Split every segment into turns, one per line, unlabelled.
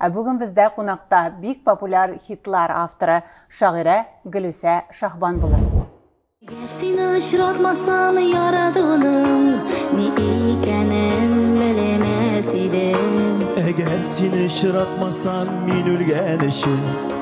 Ә бүген бездә кунакта бик популяр хитлар авторы, шагыйрә Гөлүсә Шаһбан булыр. Гәр
сине очратмасам яратуның ни икәнен белмәс идем. Әгәр сине
очратмасам мин үлгән өчен.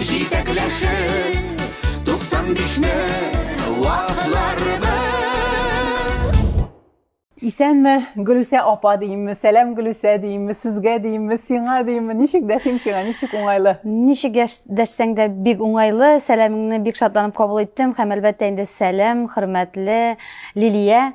Җитәкләшеп, туксан бишне вакларбыз.
Исәнме, Гөлүсә апа димме, сәлам Гөлүсә димме, сезгә димме, сиңа димме, ничек дәшим сиңа, ничек уңайлы? Ничек
дәшсәң дә бик уңайлы, сәламеңне бик шатланып кабул иттем һәм әлбәттә инде сәлам, хөрмәтле Лилия.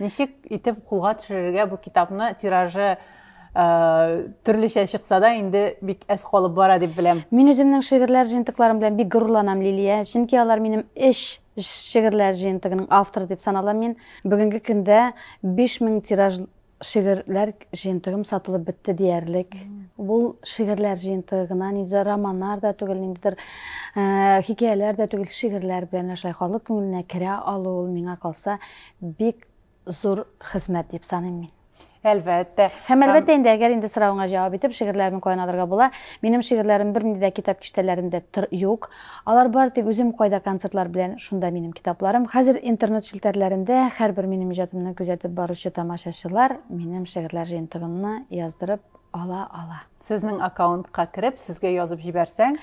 Ничек итеп кулга төшерергә бу китапны тиражы төрлечә чыкса да инде бик әз калып бара дип беләм. Мин үземнең шигырьләр
җыентыкларым белән бик горурланам, Лилия, чөнки алар минем эш шигырьләр җыентыгының авторы дип саналам мин. Бүгенге көндә 5000 тираж шигырьләр җыентыгым сатылып бетте диярлек. Бул шигырьләр җыенты гына, ниндидер романнар да түгел, ниндидер э, хикәяләр дә түгел, шигырьләр белән шулай халык күңеленә керә алу ул миңа калса Бик зур хезмәт дип саныйм мин. Әлбәттә.
Һәм әлбәттә инде,
әгәр инде соравыңа җавап итеп, шигырьләремне каян алырга була? Минем шигырьләрем бернинди дә китап киштәләрендә тор юк. Алар бар тик үзем кайда концертлар белән, шунда минем китапларым. Хәзер интернет челтәрләрендә һәрбер минем иҗатымны күзәтеп баручы тамашачылар минем шигырьләр җыентыгымны
яздырып
ала
ала. Сезнең
аккаунтка
кереп, сезгә язып
җибәрсәң,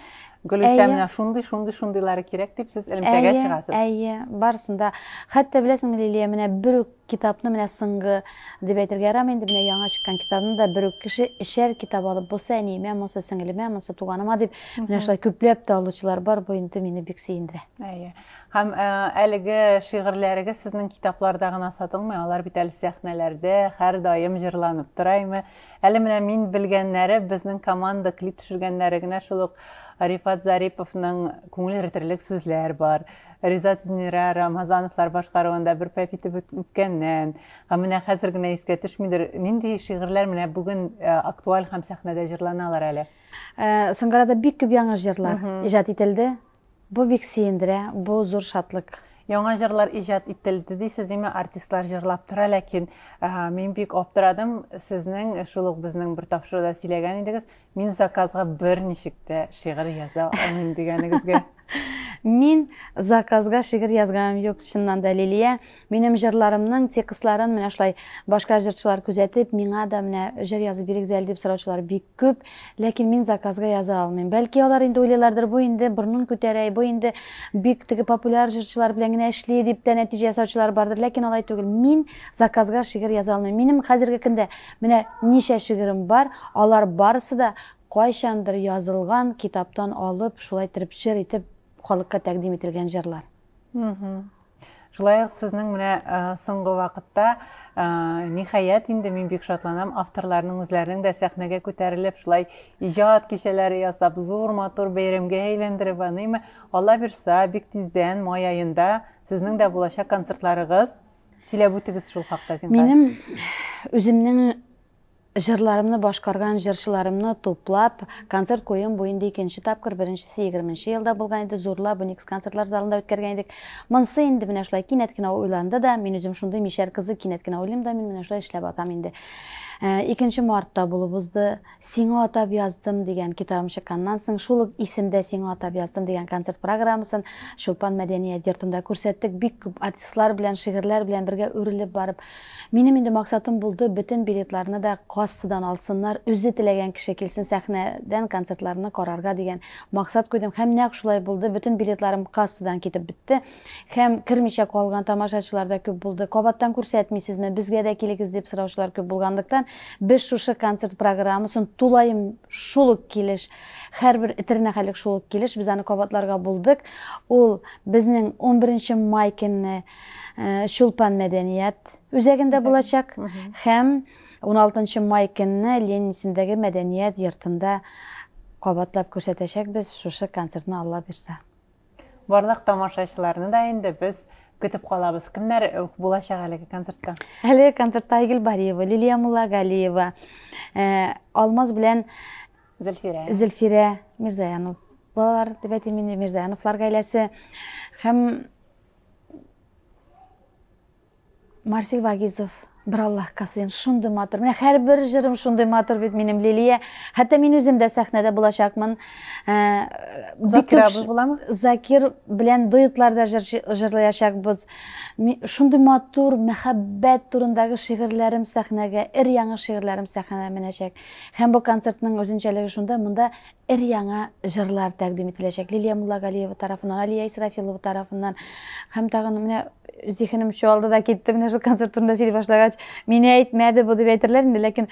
Гөлүсә менә шундый, шундый, шундыйлары кирәк дип сез элемтәгә чыгасыз. Әйе, барысында.
Хәтта беләсеңме, Лилия, менә бер үк китапны менә соңгы дип әйтергә ярамый инде, менә яңа чыккан китапны да бер үк кеше эчәр китап алып, бусы әниемә, монысы сеңлемә, монысы туганыма дип, менә шулай күпләп тә алучылар бар, бу инде мине бик сөендерә. Әйе. Һәм
э, әлеге шигырьләрегез сезнең китапларда гына сатылмый, алар бит әле сәхнәләрдә һәрдаим җырланып тора име. Әле менә мин белгәннәре безнең команда клип төшергәннәре генә шул ук Рифат Зариповның күңел эритерлек сүзләр бар. Ризат Зинира Рамазановлар башкаруында бер пәп итеп үт- үткәннән. Ә менә хәзер генә искә төшмидер. Нинди шигырьләр менә бүген э, актуаль һәм сәхнәдә җырланалар әле? Э, Соңгырада
бик күп яңа җырлар иҗат ителде. Бу бик сөендерә, бу зур шатлык. Яңа җырлар
иҗат ителде дисез име, артистлар җырлап тора, ләкин мин бик аптырадым, сезнең шул ук безнең бер тапшыруда сөйләгән идегез, мин заказга берничек тә шигырь яза алмыйм дигәнегезгә. Мин
заказга шигырь язганым юк, чыннан да, Лилия, Минем җырларымның текстларын менә шулай башка җырчылар күзәтеп, миңа да менә җыр язып бирегез әле дип сораучылар бик күп, ләкин мин заказга яза алмыйм. Бәлки алар инде уйлыйлардыр, бу инде борынын күтәрә, бу инде бик теге популяр җырчылар белән генә эшли дип тә нәтиҗә ясаучылар бардыр, ләкин алай түгел. Мин заказга шигырь яза алмыйм. Минем хәзерге көндә менә ничә шигырем бар, алар барысы да кайчандыр язылган, китаптан алып, шулай терпчер итеп халыкка тәкъдим ителгән җырлар.
Шулай ук сезнең менә соңгы вакытта ниһаять инде мин бик шатланам авторларның үзләренең дә сәхнәгә күтәрелеп шулай иҗат кичәләре ясап зур матур бәйрәмгә әйләндереп аныймы алла бирса бик тиздән май аенда сезнең дә булачак концертларыгыз сөйләп үтегез шул хакта зинһар минем
үземнең Җырларымны башкарган җырчыларымны туплап, концерт куюым бу инде икенче тапкыр, беренчесе егерменче елда булган иде, зурлап, Уникс концертлар залында үткәргән идек. Монсы инде менә шулай кинәт кенә уйланды да, мин үзем шундый мишәр кызы, кинәт кенә уйлыйм да, мин менә шулай эшләп атам инде. Икенче мартта булып узды. Сиңа атап яздым дигән китабым чыкканнан соң, шул ук исемдә Сиңа атап яздым дигән концерт программасын Чулпан мәдәният йортында күрсәттек, бик күп артистлар белән, шигырьләр белән бергә үрелеп барып. Минем инде максатым булды, бөтен билетларны да кассадан алсыннар, үзе теләгән кеше килсен сәхнәдән концертларны карарга дигән максат куйдым һәм нәкъ шулай булды, бөтен билетларым кассадан китеп бетте һәм кермичә калган тамашачылар да күп булды. Кабаттан күрсәтмисезме, безгә дә килегез дип сораучылар күп булганлыктан, без шушы концерт программасын тулаем шул ук килеш, һәрбер этернәхәлек шул ук килеш, без аны кабатларга булдык, ул безнең унберенче май көнне Чулпан мәдәният үзәгендә булачак һәм уналтынчы май көнне Ленин исемендәге мәдәният йортында кабатлап күрсәтәчәкбез шушы концертны Алла бирса. Барлык
тамашачыларны да инде без көтеп калабыз. Кемнәр булачак әлеге концертта? Әлеге концертта
Айгөл Бариева, Лилия Муллагалиева, Алмаз белән Зөлфирә. Зөлфирә Мирзаянов балалар дип әйтим инде, Мирзаяновлар гаиләсе һәм Марсель Вагизов, бер Аллах Касыйн, шундый матур. Менә һәрбер җырым шундый матур бит минем Лилия. Хәтта мин үзем дә сәхнәдә булачакмын. Э,
Закир абыз буламы? Закир белән
дуэтларда җыр җырлаячакбыз. Шундый матур мәхәббәт турындагы шигырьләрем сәхнәгә, эр яңы шигырьләрем сәхнәгә менәчәк. Һәм бу концертның үзенчәлеге шунда, монда Өр-яңа җырлар тәкъдим ителәчәк. Лилия Муллагалиева тарафыннан, Алия Исрафилова тарафыннан һәм тагын менә зихенем чуалды да китте менә шул концерт турында сөйли башлагач мине әйтмәде бу дип әйтерләр инде ләкин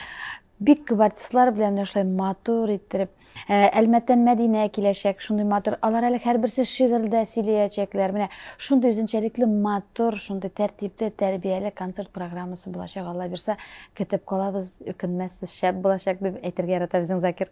бик күп артистлар белән менә шулай матур иттереп ә, әлмәттән мәдинә киләчәк шундый матур алар әле һәрберсе шигырьдә сөйләячәкләр менә шундый үзенчәлекле матур шундый тәртипле тәрбияле концерт программасы булачак алла бирса көтеп калабыз үкенмәссез шәп булачак дип әйтергә ярата безнең закир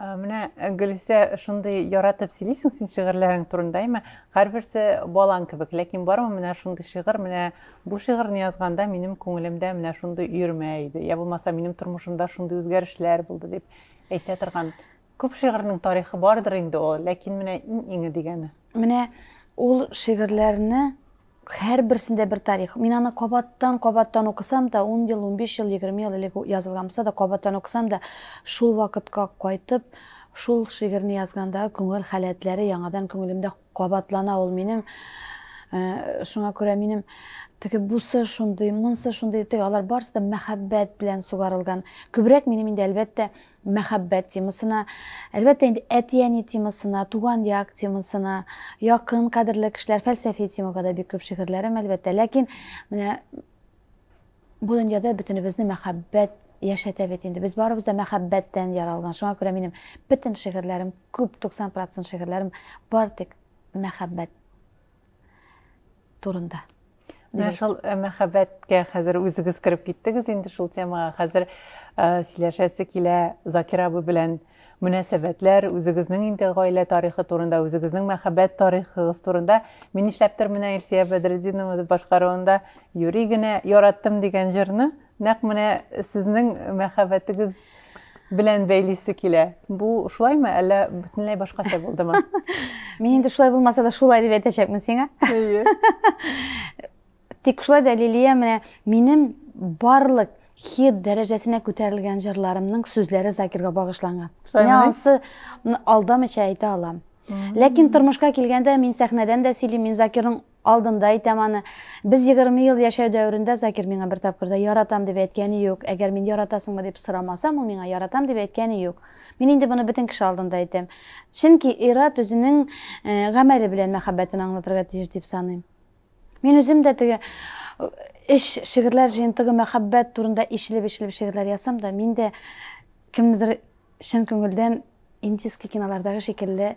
Менә э, Гөлүсә шундый яратып сөйлисең син шигырьләрең турында, әйме? Һәрберсе балаң кебек, ләкин бармы менә шундый шигырь, менә бу шигырьне язганда минем күңелемдә менә шундый өермә иде, я булмаса минем тормышымда шундый үзгәрешләр булды дип әйтә торган. Күп шигырьнең тарихы бардыр инде ул, ләкин менә иң иңе дигәне. Менә
ул шигырьләрне Һәрберсендә бер тарих. Мин аны кабаттан, кабаттан укысам да, ун ел, унбиш ел, егерме ел элек язылган булса да, кабаттан укысам да, шул вакытка кайтып, шул шигырьне язгандагы күңел халәтләре яңадан күңелемдә кабатлана ул минем. Шуңа күрә минем теге бусы шундый, монсы шундый, теге алар барысы да мәхәббәт белән сугарылган. Күбрәк минем инде, әлбәттә, мәхәббәт темасына, әлбәттә инде әти-әни темасына, туган як темасына, якын кадерле кешеләр, фәлсәфи темага да бик күп шигырьләрем, әлбәттә. Ләкин менә бу дөньяда бөтенебезне мәхәббәт яшәтә бит инде. Без барыбыз да мәхәббәттән яралган. Шуңа күрә минем бөтен шигырьләрем, күп 90% шигырьләрем бар тик мәхәббәт турында. Менә шул
э, мәхәббәткә хәзер үзегез кереп киттегез инде шул темага. Хәзер э, сөйләшәсе килә Закир абый белән мөнәсәбәтләр, үзегезнең инде гаилә тарихы турында, үзегезнең мәхәббәт тарихыгыз турында. Мин нишләптер менә Илсия Бәдретдинова башкаруында юри генә яраттым дигән җырны Нәкъ менә сезнең мәхәббәтегез белән бәйлисе килә. Бу шулаймы, әллә бөтенләй башкача булдымы? Мин инде
шулай булмаса да шулай дип әйтәчәкмен сиңа. Әйе. Тик шулай да Лилия менә минем барлык хит дәрәҗәсенә күтәрелгән җырларымның сүзләре Закирга багышланган. Менә ансы алдамыйча әйтә алам. Ләкин тормышка килгәндә мин сәхнәдән дә сөйлим, мин Закирның Алдында әйтәм аны. Без егерме ел яшәү дәверендә Закир миңа бер тапкыр да яратам дип әйткәне юк. Әгәр мин яратасыңмы дип сорамасам, ул миңа яратам дип әйткәне юк. Мин инде моны бөтен кеше алдында әйтәм. Чөнки ир-ат үзенең гамәле белән мәхәббәтен аңлатырга тиеш дип саныйм. Мин үзем дә теге өч шигырьләр җыентыгы мәхәббәт турында ишелеп-ишелеп шигырьләр ясам да, мин дә кемнедер чын күңелдән индийский кинолардагы шикелле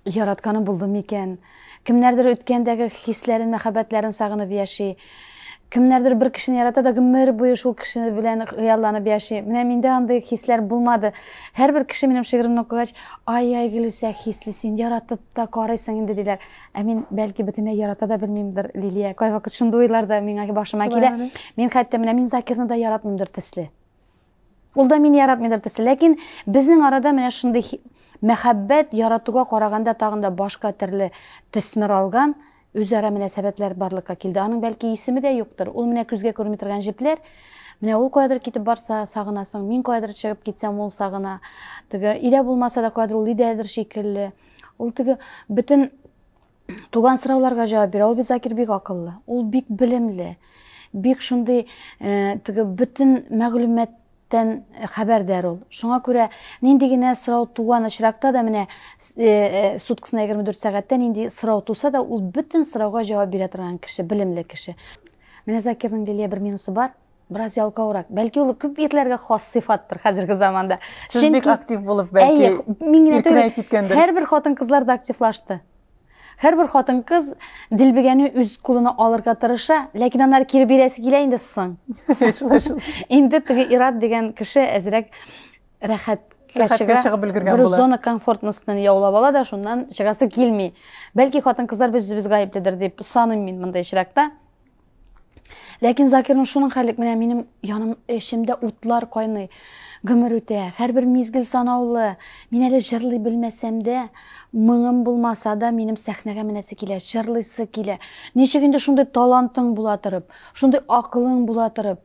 Яратканым булды микән? Кемнәрдер үткәндәге хисләрен, мәхәббәтләрен сагынып яши. Кемнәрдер бер кешене ярата да гомер буе шул кеше белән хыялланып яши. Менә миндә андый хисләр булмады. Һәрбер кеше минем шигыремне укыгач, ай-яй, Гөлүсә, хисле син, яратып та карыйсың инде, диләр. Ә мин, бәлки, бөтенләй ярата да белмимдер, Лилия. Кайвакыт шундый уйлар да миңа башыма килә. Мин хәтта менә мин Закирны да яратмыймдыр төсле. Ул да мине яратмыйдыр төсле, ләкин безнең арада менә шундый мәхәббәт яратуга караганда тагын да башка төрле төсмер алган үзара мөнәсәбәтләр барлыкка килде. Аның бәлки исеме дә юктыр. Ул менә күзгә күрми торган җепләр. Менә ул каядыр китеп барса, сагынасың. Мин каядыр чыгып китсәм, ул сагына. Теге өйдә булмаса да каядыр ул өйдәдер шикелле. Ул теге бөтен Туган сорауларга җавап бирә. Ул бит Закир бик акыллы. Ул бик белемле. Бик шундый э, теге бөтен мәгълүматтан хәбәрдар ул. Шуңа күрә нинди генә сорау туган очракта да менә э, э, суткасына 24 сәгатьтә нинди сорау туса да ул бөтен сорауга җавап бирә торган кеше, белемле кеше. Менә Закирның Лилия бер минусы бар. Бераз ялкаурак. Бәлки ул күп ирләргә хас сыйфаттыр хәзерге заманда. Сез бик актив
булып бәлки. Әйе, һәрбер хатын-кызлар да
активлашты. Һәрбер хатын-кыз дилбегәне үз кулына алырга тырыша, ләкин аннары кире бирәсе килә инде соң. Шулай шул. Инде теге Ират дигән кеше әзрәк рәхәт рәхәткә чыгып өлгергән була. Бер зона комфортностен яулап ала да, шуннан чыгасы килми. Бәлки хатын-кызлар без без гаепледер дип саныйм мин монда ишрәктә. Ләкин Закирның шуның хәлек менә минем яным эчемдә утлар кайный. Гомер үтә, һәрбер мизгел санаулы. Мин әле җырлый белмәсәм дә, моңым булмаса да, минем сәхнәгә менәсе килә, җырлыйсы килә. Ничек инде шундый талантың була торып, шундый акылың була торып,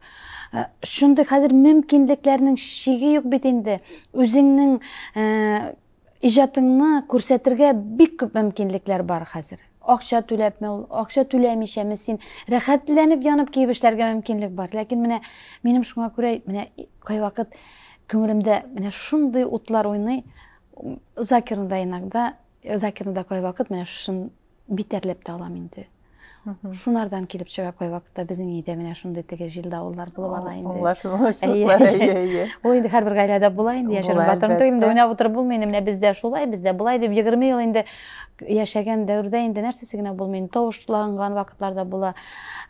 э, шундый хәзер мөмкинлекләрнең шиге юк бит инде. Үзеңнең э, Иҗатыңны күрсәтергә бик күп мөмкинлекләр бар хәзер. Акча түләпме ул, акча түләмичәме син рәхәтләнеп янып киеп эшләргә мөмкинлек бар. Ләкин менә минем шуңа күрә менә кайвакыт күңелемдә менә шундый утлар уйный, Закирны да иногда, Закирны да кайвакыт менә шушы битәрләп тә алам инде. Шунардан килеп чыга кой вакытта безнең өйдә менә шундый теге җил давыллар булып ала инде. Аңлашылмашлыклар, әйе,
әйе. Ул инде һәрбер гаиләдә
була инде, яшереп батырым түгел, инде уйнап утырып булмый, инде менә бездә шулай, бездә болай дип 20 ел инде яшәгән дәвердә инде нәрсәсе генә булмый, инде тавышланган вакытларда була,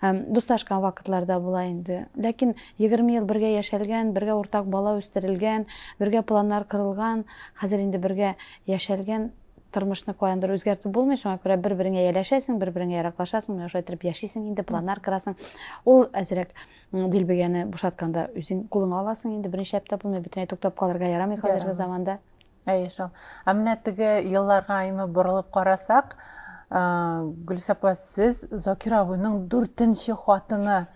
дуслашкан вакытларда була инде. Ләкин 20 ел бергә яшәлгән, бергә уртак бала үстерелгән, бергә планнар кырылган, хәзер инде бергә яшәлгән Тормышны каяндыр үзгәртеп булмый, шуңа күрә бер-береңә ияләшәсең, бер-береңә яраклашасың, менә шулай итеп яшисең инде, планнар кырасың. Ул әзрәк дилбегәне бушатканда үзең кулыңа аласың инде, берничә әптә булмый, бөтенләй туктап калырга ярамый хәзерге заманда. Әйе шул.
Ә менә теге елларга имә борылып карасак, Гөлсә апа, сез Закир абыйның дүртенче хатыны.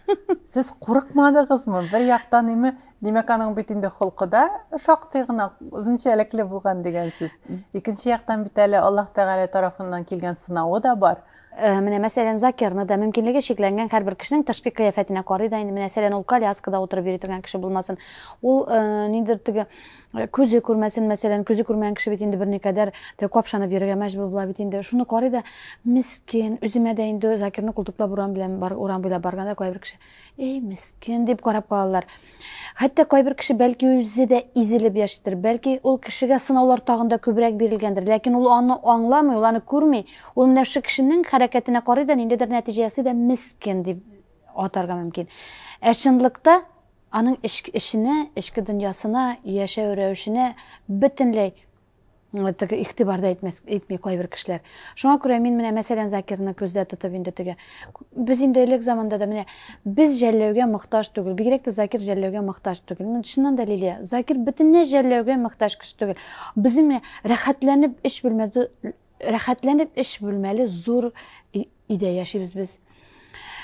Сез курыкмадыгызмы? Бер яктан име Димәк, аның бит инде холкы да шактый гына үзенчәлекле булган дигәнсез. Икенче яктан бит әле Аллаһ Тәгалә тарафыннан килгән сынавы да бар. Э, менә мәсәлән
закирны да мөмкинлеге чикләнгән һәрбер кешенең тышкы кыяфәтенә карый да инде мәсәлән ул коляскада утырып йөри торган кеше булмасын ул э, ниндидер теге э, күзе күрмәсен мәсәлән күзе күрмәгән кеше бит инде берникадәр капшанып йөрергә мәҗбүр була бит инде шуны карый да мискен үземә дә инде закирны култыклап урам белән урам буйлап барганда кайбер кеше Эй, мескен, дип карап калалар. Хәтта кайбер кеше бәлки үзе дә изелеп яшидер, бәлки ул кешегә сынаулар тагында күбрәк бирелгәндер, ләкин ул аны аңламый, ул аны күрми. Ул менә шушы кешенең хәрәкәтенә карый да, ниндидер нәтиҗә ясый да, мескен дип атарга мөмкин. Ә чынлыкта аның эчке эченә, эчке дөньясына, яшәү рәвешенә бөтенләй теге игътибар да итмәс итми кайбер кешеләр шуңа күрә мин менә мәсәлән закирны күздә тотып инде теге без инде элек заманда да менә без жәлләүгә мохтаж түгел бигрәк тә закир жәлләүгә мохтаж түгел ну чыннан да лилия закир бөтенләй жәлләүгә мохтаж кеше түгел безнең менә рәхәтләнеп эш бүлмәдә рәхәтләнеп эш бүлмәле зур өйдә яшибез без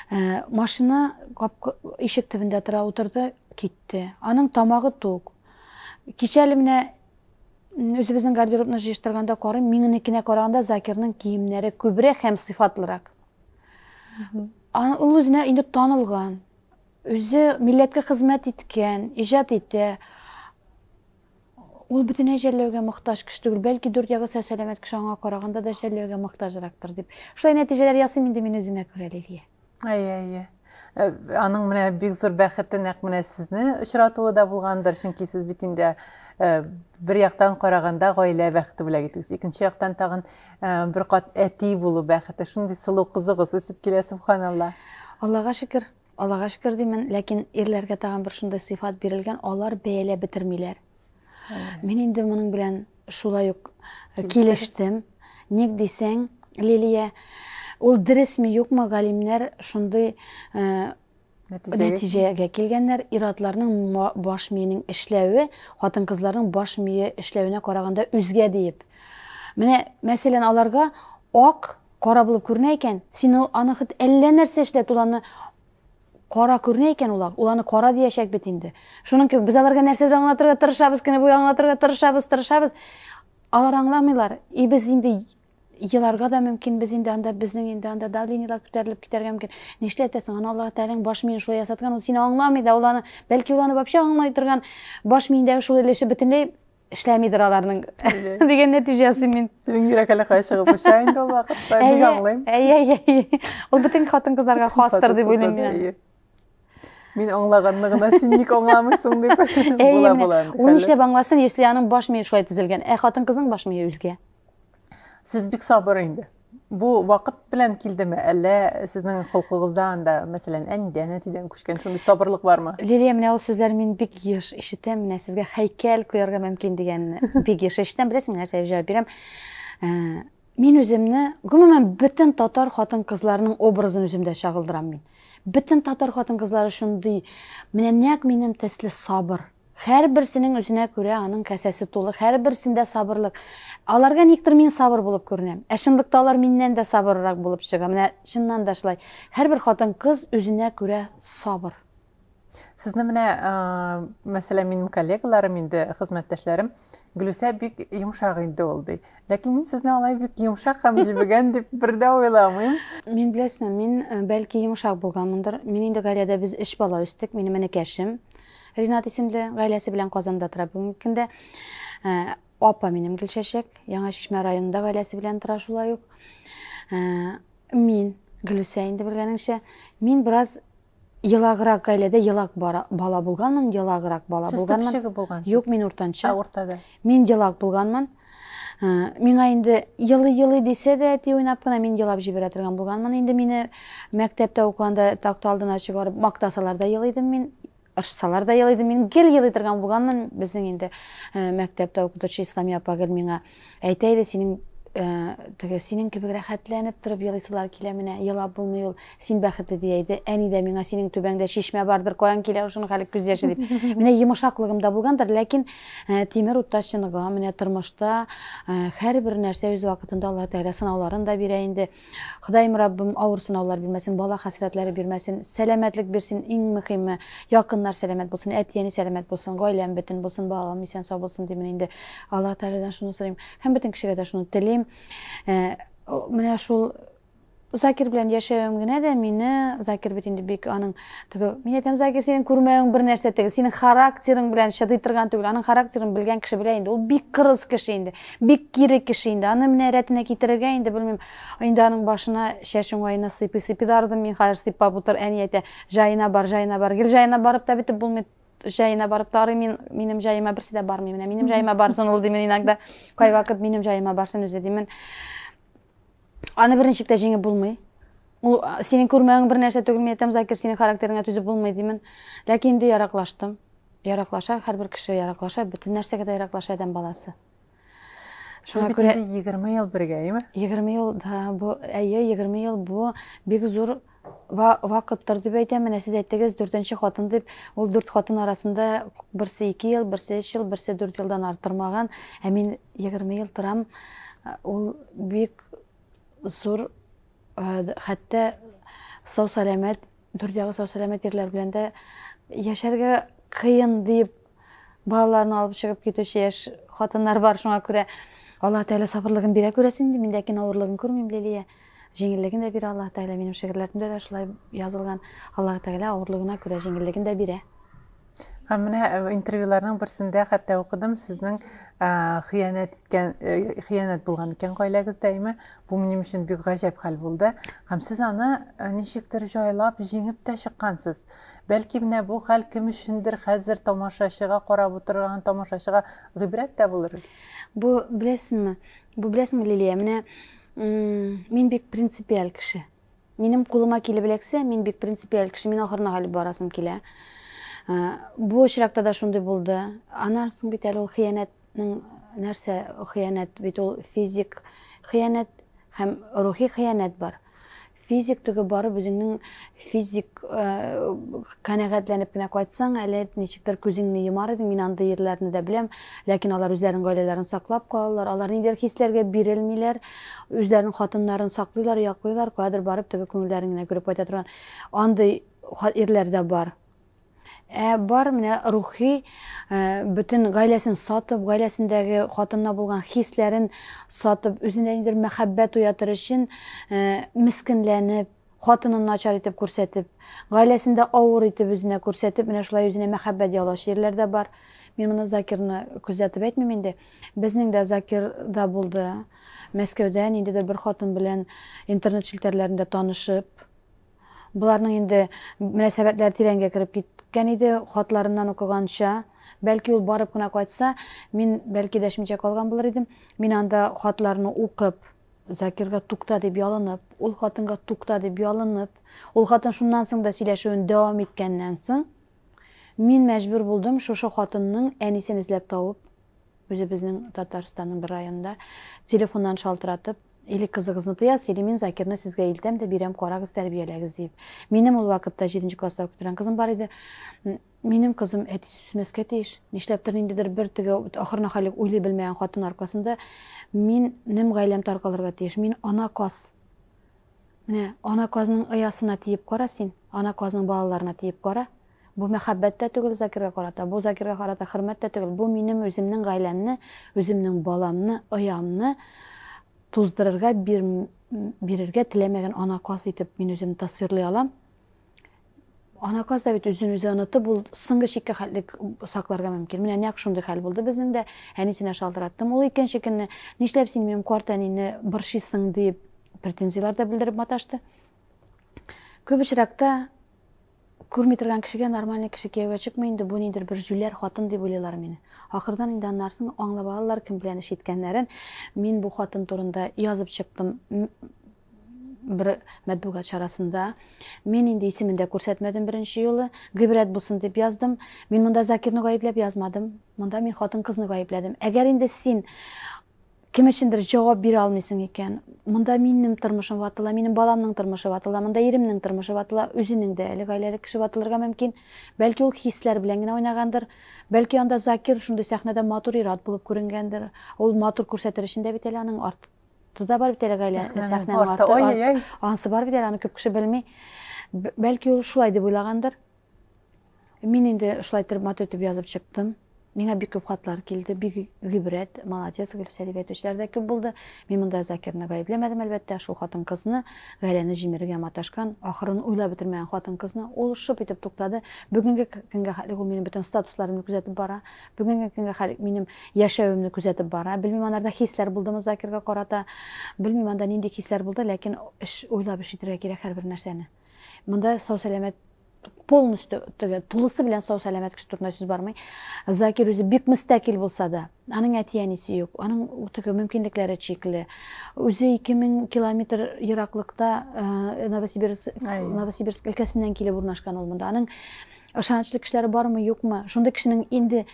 ә, машина капка ишек төбендә тора утырды китте аның тамагы тук кичәле менә үзебезнең гардеробны җыештырганда карыйм, миненекенә караганда Закирның киемнәре күбрәк һәм сыйфатлырак. Ул үзенә инде танылган, үзе милләткә хезмәт иткән, иҗат итә. Ул бөтенләй жәлләүгә мохтаҗ кеше түгел, бәлки дүрт ягы сәләмәт кеше аңа караганда да жәлләүгә мохтаҗрактыр дип. Шулай нәтиҗәләр ясыйм инде мин үземә күрә, Лилия. Әйе, әйе.
Э, аның менә бик зур бәхете нәкъ менә сезне очратуы да булгандыр, чөнки сез бит инде э, бер яктан караганда гаилә бәхете бүләк итегез. Икенче яктан тагын э, бер кат әти булу бәхете. Шундый сылу кызыгыз үсеп килә, субханалла. Аллага шөкер,
Аллага шөкер димен, ләкин ирләргә тагын бер шундый сыйфат бирелгән, алар бәяләп бетермиләр. Мин инде моның белән шулай ук килештем. Ник дисәң, Лилия, ул дөресме юкмы галимнәр шундый нәтиҗәгә килгәннәр иратларның баш миенең эшләве хатын кызларның баш мие эшләвенә караганда үзгә диеп менә мәсәлән аларга ак кара булып күренә икән син аны хет әллә нәрсә эшлә туланы Кара күренә икән ул ак, ул аны кара диячәк бит инде. Шуның кебек без аларга нәрсәдер аңлатырга тырышабыз, кенә буе аңлатырга тырышабыз, тырышабыз. Алар аңламыйлар. И без инде еларга да мөмкин, без инде анда безнең инде анда давлениелар күтәрелеп китәргә мөмкин. Нишләтәсең? Аны Аллаһ Тәгаләнең баш миен шулай ясаткан, ул сине аңламый да, ул аны, бәлки ул аны вообще аңламый торган баш миендәге шул өлеше бөтенләй эшләмидер аларның дигән нәтиҗә ясыйм мин синең йөрәк әле кая чыгып
оча инде ул вакытта бик аңлыйм әйе әйе
ул бөтен хатын кызларга хастыр дип уйлыйм мин Мин
аңлаганны гына син ник аңламыйсың дип була була. Ул нишләп аңласын,
если аның баш мие шулай төзелгән. Ә хатын-кызның баш мие үзгә. Сез
бик сабыр инде. Бу вакыт белән килдеме, әллә сезнең холкыгызда анда, мәсәлән, әнидән, әтидән күчкән шундый сабырлык бармы? Лилия, менә ул сүзләр
мин бик еш ишетәм, менә сезгә һәйкәл куярга мөмкин дигән бик еш ишетәм, беләсең нәрсә дип җавап бирәм. Э, мин үземне, гомумән, бөтен татар хатын-кызларының образын үземдә чагылдырам мин. Бөтен татар хатын-кызлары шундый, менә нәкъ минем төсле сабыр, Һәрберсенең үзенә күрә аның касәсе тулы, һәрберсендә сабырлык. Аларга никтер мин сабыр булып күренәм. Ә чынлыкта алар миннән дә сабыррак булып чыга. Менә чыннан да шулай. Һәрбер хатын-кыз үзенә күрә сабыр. Сезне
менә, мәсәлән, минем коллегаларым инде, хезмәттәшләрем, Гөлүсә бик йомшак инде ул ди. Ләкин мин сезне алай бик йомшак һәм җебегән дип бер дә уйламыйм. Мин беләсезме,
мин бәлки йомшак булганмындыр. Мин инде гаиләдә без өч бала үстек, минем энекәшем, Ринат исемле гаиләсе белән Казанда тора бүгенге көндә. Ә, апа минем Гөлчәчәк, Яңа Чишмә районында гаиләсе белән тора шулай ук. Ә, мин Гөлүсә инде белгәнеңчә, мин бераз елаграк гаиләдә елак бара, бала булганмын, елаграк бала Сез булганмын. Сез төпчеге булгансыз?
Юк,
мин
уртанчы. Ә
уртада. Мин
елак булганмын.
Миңа инде елый-елый дисә дә, әти уйнап кына мин елап җибәрә торган булганмын. Инде мине мәктәптә укыганда такта алдына чыгарып мактасалар да елый идем мин, ыршсалар да елый идем мин, гел елый торган булганмын. Безнең инде мәктәптә укытучы Исламия апа гел миңа әйтә иде, синең теге синең кебек рәхәтләнеп торып елыйсылар килә менә, елап булмый ул. Син бәхетле, ди әйде. Әни дә миңа, Синең түбәңдә чишмә бардыр, каян килә ул шуның хәле күз яше, дип. Менә йомышаклыгым да булгандыр, ләкин тимер утта чыныгам, менә тормышта һәрбер нәрсә үз вакытында Аллаһ Тәгалә сынауларын да бирә инде. Ходаем Раббым авыр сынаулар бирмәсен, бала хәсрәтләре бирмәсен, сәламәтлек бирсен, иң мөхиме, якыннар сәламәт булсын, әти-әни сәламәт булсын, гаиләм бөтен булсын, балаларым исән-сау булсын, димен инде. Аллаһ Тәгаләдән шуны сорыйм һәм бөтен кешегә дә шуны телим. Менә шул Закир белән яшәвем генә дә мине, Закир бит инде бик аның теге, мин әйтәм, Закир синең күрмәвең бер нәрсә теге, синең характерың белән чыдый торган түгел, аның характерын белгән кеше белә инде, ул бик кырыс кеше инде, бик кире кеше инде, аны менә рәтенә китерергә инде белмим, инде аның башына чәч уңаена сыйпый сыйпый да ардым мин хәзер сыйпап утыр, әни әйтә, җаена бар, җаена бар, гел җаена барып та бетеп булмый, җаена барып та арыйм мин, минем җаема берсе дә бармый, менә минем җаема барсын ул димен иногда, кайвакыт минем җаема барсын үзе димен. Аны берничек тә җиңеп булмый. Ул синең күрмәвең бер нәрсә түгел, мин әйтәм, Закир, синең характерыңа түзеп булмый димен. Ләкин инде яраклаштым. Яраклаша, һәрбер кеше яраклаша, бөтен нәрсәгә дә яраклаша адәм баласы.
Сез бит инде 20 ел бергә, әйеме? 20 ел, да,
бу, әйе, 20 ел бу бик зур вакыттыр дип әйтәм. Менә сез әйттегез, дүртенче хатын дип, ул дүрт хатын арасында берсе ике ел, берсе өч ел, берсе дүрт елдан арттырмаган. Ә мин егерме ел торам. Ул бик зур, хәтта сау-сәламәт, дүрт ягы сау-сәламәт ирләр белән дә яшәргә кыен дип Балаларын алып чыгып китүче яшь хатыннар бар, шуңа күрә Аллаһ Тәгалә сабырлыгын бирә күрәсен инде. Мин ләкин авырлыгын күрмим, Лилия. Җиңеллеген дә бирә Аллаһ Тәгалә. Минем шигырьләремдә дә шулай язылган. Аллаһ Тәгалә авырлыгына күрә җиңеллеген дә бирә. Ә менә
э, интервьюларның берсендә хәтта укыдым, сезнең э, хыянәт иткән э, хыянәт булган икән гаиләгездә, әйме? Бу минем өчен бик гаҗәп хәл булды. Һәм сез аны ничектер җайлап, җиңеп тә чыккансыз. Бәлки менә бу хәл кем өчендер хәзер тамашачыга карап утырган тамашачыга гыйбрәт тә булыр? Бу
беләсеңме, бу беләсеңме, Лилия, менә мин бик принципиаль кеше. Минем кулыма килеп эләксә, мин бик принципиаль кеше, мин ахырына хәлеп барасым килә. Бу очракта да шундый булды. Аннан соң бит әле ул хыянәтнең нәрсә хыянәт бит ул физик хыянәт һәм рухи хыянәт бар. Физик түгел, барып үзеңнең физик канәгатьләнеп кенә кайтсаң, әле ничектер күзеңне йомар идең. Мин андый ирләрне дә беләм, ләкин алар үзләренең гаиләләрен саклап калалар, алар ниндидер хисләргә бирелмиләр, үзләренең хатыннарын саклыйлар, яклыйлар, каядыр барып, теге күңелләрен генә күреп кайта торган андый ирләр дә бар. Ә бар менә рухи бөтен гаиләсен сатып, гаиләсендәге хатынына булган хисләрен сатып, үзендә ниндидер мәхәббәт уятыр өчен мескенләнеп, хатынын начар итеп күрсәтеп, гаиләсендә авыр итеп үзенә күрсәтеп, менә шулай үзенә мәхәббәт яулаучы ирләр дә бар. Мин моны Закирны күзәтеп әйтмим инде. Безнең дә Закир да булды. Мәскәүдә ниндидер бер хатын белән интернет челтәрләрендә танышып, Боларның инде мөнәсәбәтләре тирәнгә кереп киткән иде, хатларыннан укыганча, бәлки ул барып кына кайтса, мин бәлки дәшмичә калган булыр идем, мин анда хатларны укып, Закирга тукта дип ялынып, ул хатынга тукта дип ялынып, ул хатын шуннан соң да сөйләшүен дәвам иткәннән соң, мин мәҗбүр булдым шушы хатынның әнисен эзләп табып, үзебезнең Татарстанның бер районында телефоннан шалтыратып, Или кызыгызны тоясыз, или мин Закирны сезгә илтәм дә бирәм, карагыз, тәрбияләгез, дип. Минем ул вакытта 7 нче класста укып торган кызым бар иде. Минем кызым әтисе сүсмәскә тиеш. Нишләптер ниндидер бер теге ахырына хәлек уйлый белмәгән хатын аркасында минем гаиләм таркалырга тиеш. Мин ана каз. Менә ана казның оясына тиеп кара син, ана казның балаларына тиеп кара. Бу мәхәббәт тә түгел Закирга карата, бу Закирга карата хөрмәт тә түгел, бу минем үземнең гаиләмне, үземнең баламны, оямны туздырырга бир, бирергә теләмәгән анаказ итеп мин үземне тасвирлый алам. Анаказ да бит үзен үзе онытып ул соңгы чиккә хәтле сакларга мөмкин. Менә нәкъ шундый хәл булды безнең дә. Әнисенә шалтыраттым. Ул икенче көнне нишләп син минем карт әнине борчыйсың дип претензияләр дә белдереп маташты. Күп очракта Күрми торган кешегә нормальный кеше кияүгә чыкмый инде, бу нидер бер җүләр хатын дип уйлыйлар мине. Ахырдан инде аннарсын аңлап алалар кем белән эш иткәннәрен. Мин бу хатын турында язып чыктым бер мәтбугат чарасында. Мин инде исемен дә күрсәтмәдем беренче юлы. Гыйбрәт булсын дип яздым. Мин монда Закирны гаепләп язмадым. Монда мин хатын-кызны гаепләдем. Әгәр инде син Кем өчендер җавап бирә алмыйсың икән, монда минем тормышым ватыла, минем баламның тормышы ватыла, монда иремнең тормышы ватыла, үзенең дә әле гаиләле кеше ватылырга мөмкин. Бәлки ул хисләр белән генә уйнагандыр. Бәлки анда Закир шундый сәхнәдә матур ир-ат булып күренгәндер. Ул матур күрсәтер өчен дә бит әле аның арты да бар бит әле гаилә, сәхнәнең арты, анысы бар бит әле, аны күп кеше белми. Бәлки ул шулай дип уйлагандыр. Мин инде шулай итеп матур итеп язып чыктым. Миңа бик күп хатлар килде, бик гыйбрәт, молодец, Гөлүсә дип әйтүчеләр дә күп булды. Мин монда Закирны гаепләмәдем, әлбәттә, шул хатын-кызны, гаиләне җимерергә маташкан, ахырын уйлап бетермәгән хатын-кызны. Ул шып итеп туктады. Бүгенге көнгә хәтлек ул минем бөтен статусларымны күзәтеп бара. Бүгенге көнгә хәтлек минем яшәвемне күзәтеп бара. Белмим, анарда хисләр булдымы Закирга карата. Белмим, анда нинди хисләр булды, ләкин эш уйлап эш итәргә кирәк һәрбер нәрсәне. Монда сау-сәламәт полностью теге тулысы белән сау сәламәт кеше турында сүз бармый закир үзе бик мөстәкил булса да аның әти әнисе юк аның теге мөмкинлекләре чикле үзе 2000 километр ераклыкта э, новосибирск новосибирск өлкәсеннән килеп урнашкан ул монда аның ышанычлы кешеләре бармы юкмы шундый кешенең инде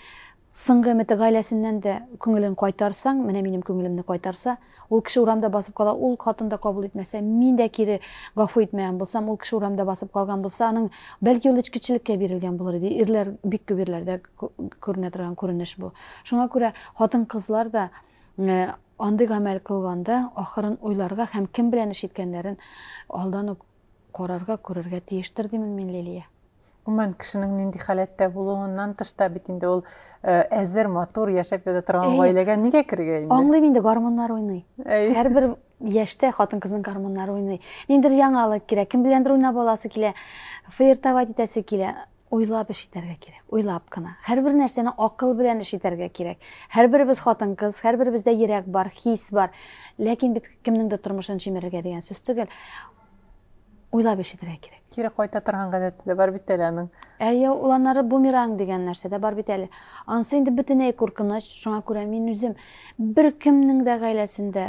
Соңгы өмете гаиләсеннән дә күңелен кайтарсаң, менә минем күңелемне кайтарса, ул кеше урамда басып кала, ул хатын да кабул итмәсә, мин дә кире гафу итмәгән булсам, ул кеше урамда басып калган булса, аның, бәлки, ул эчкечелеккә бирелгән булыр иде, ирләр, бик күп ирләрдә күренә торган күренеш бу. Шуңа күрә хатын-кызлар да андый гамәл кылганда, ахырын уйларга һәм кем белән эш иткәннәрен алдан ук Карарга, күрергә тиештер, димен мин, Лилия. Гомумән, кешенең
нинди халәттә булуыннан тыш та бит инде ул әзер, матур, яшәп ята торган гаиләгә нигә керергә инде? Аңлыйм инде, гормоннар
уйный. Һәрбер яшьтә хатын-кызның гормоннары уйный. Ниндер яңалык кирәк, кем беләндер уйнап аласы килә, флиртовать итәсе килә. Уйлап эш итәргә кирәк, уйлап кына. Һәрбер нәрсәне акыл белән эш итәргә кирәк. Һәрберебез хатын-кыз, һәрберебездә йөрәк бар, хис бар. Ләкин бит кемнең дә тормышын җимерергә дигән сүз түгел. Уйлап эш итәргә кирәк. Кире кайта торган гадәте
дә бар бит әле аның. Әйе, ул аннары
бумеранг дигән нәрсә дә бар бит әле. Анысы инде бөтенләй куркыныч, шуңа күрә мин үзем беркемнең дә гаиләсендә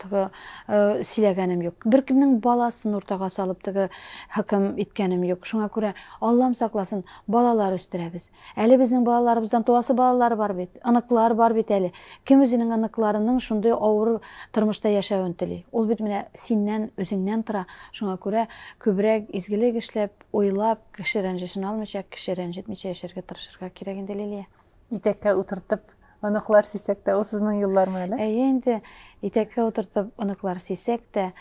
теге сөйләгәнем юк. Беркемнең баласын уртага салып теге хөкем иткәнем юк. Шуңа күрә Аллам сакласын, балалар үстерәбез. Әле безнең балаларыбыздан туасы балалар бар бит, оныклар бар бит әле. Кем үзенең оныкларының шундый авыр тормышта яшәвен тели? Ул бит менә синнән, үзеңнән тора. Шуңа күрә күбрәк изгелек эшләп, уйлап, кеше рәнҗешен алмыйча, кеше рәнҗетмичә яшәргә тырышырга кирәк инде, Лилия. Итәккә утыртып
оныклар сисәк тә, ул сезнең юллармы әле? Әйе инде,
итәккә утыртып оныклар сисәк тә,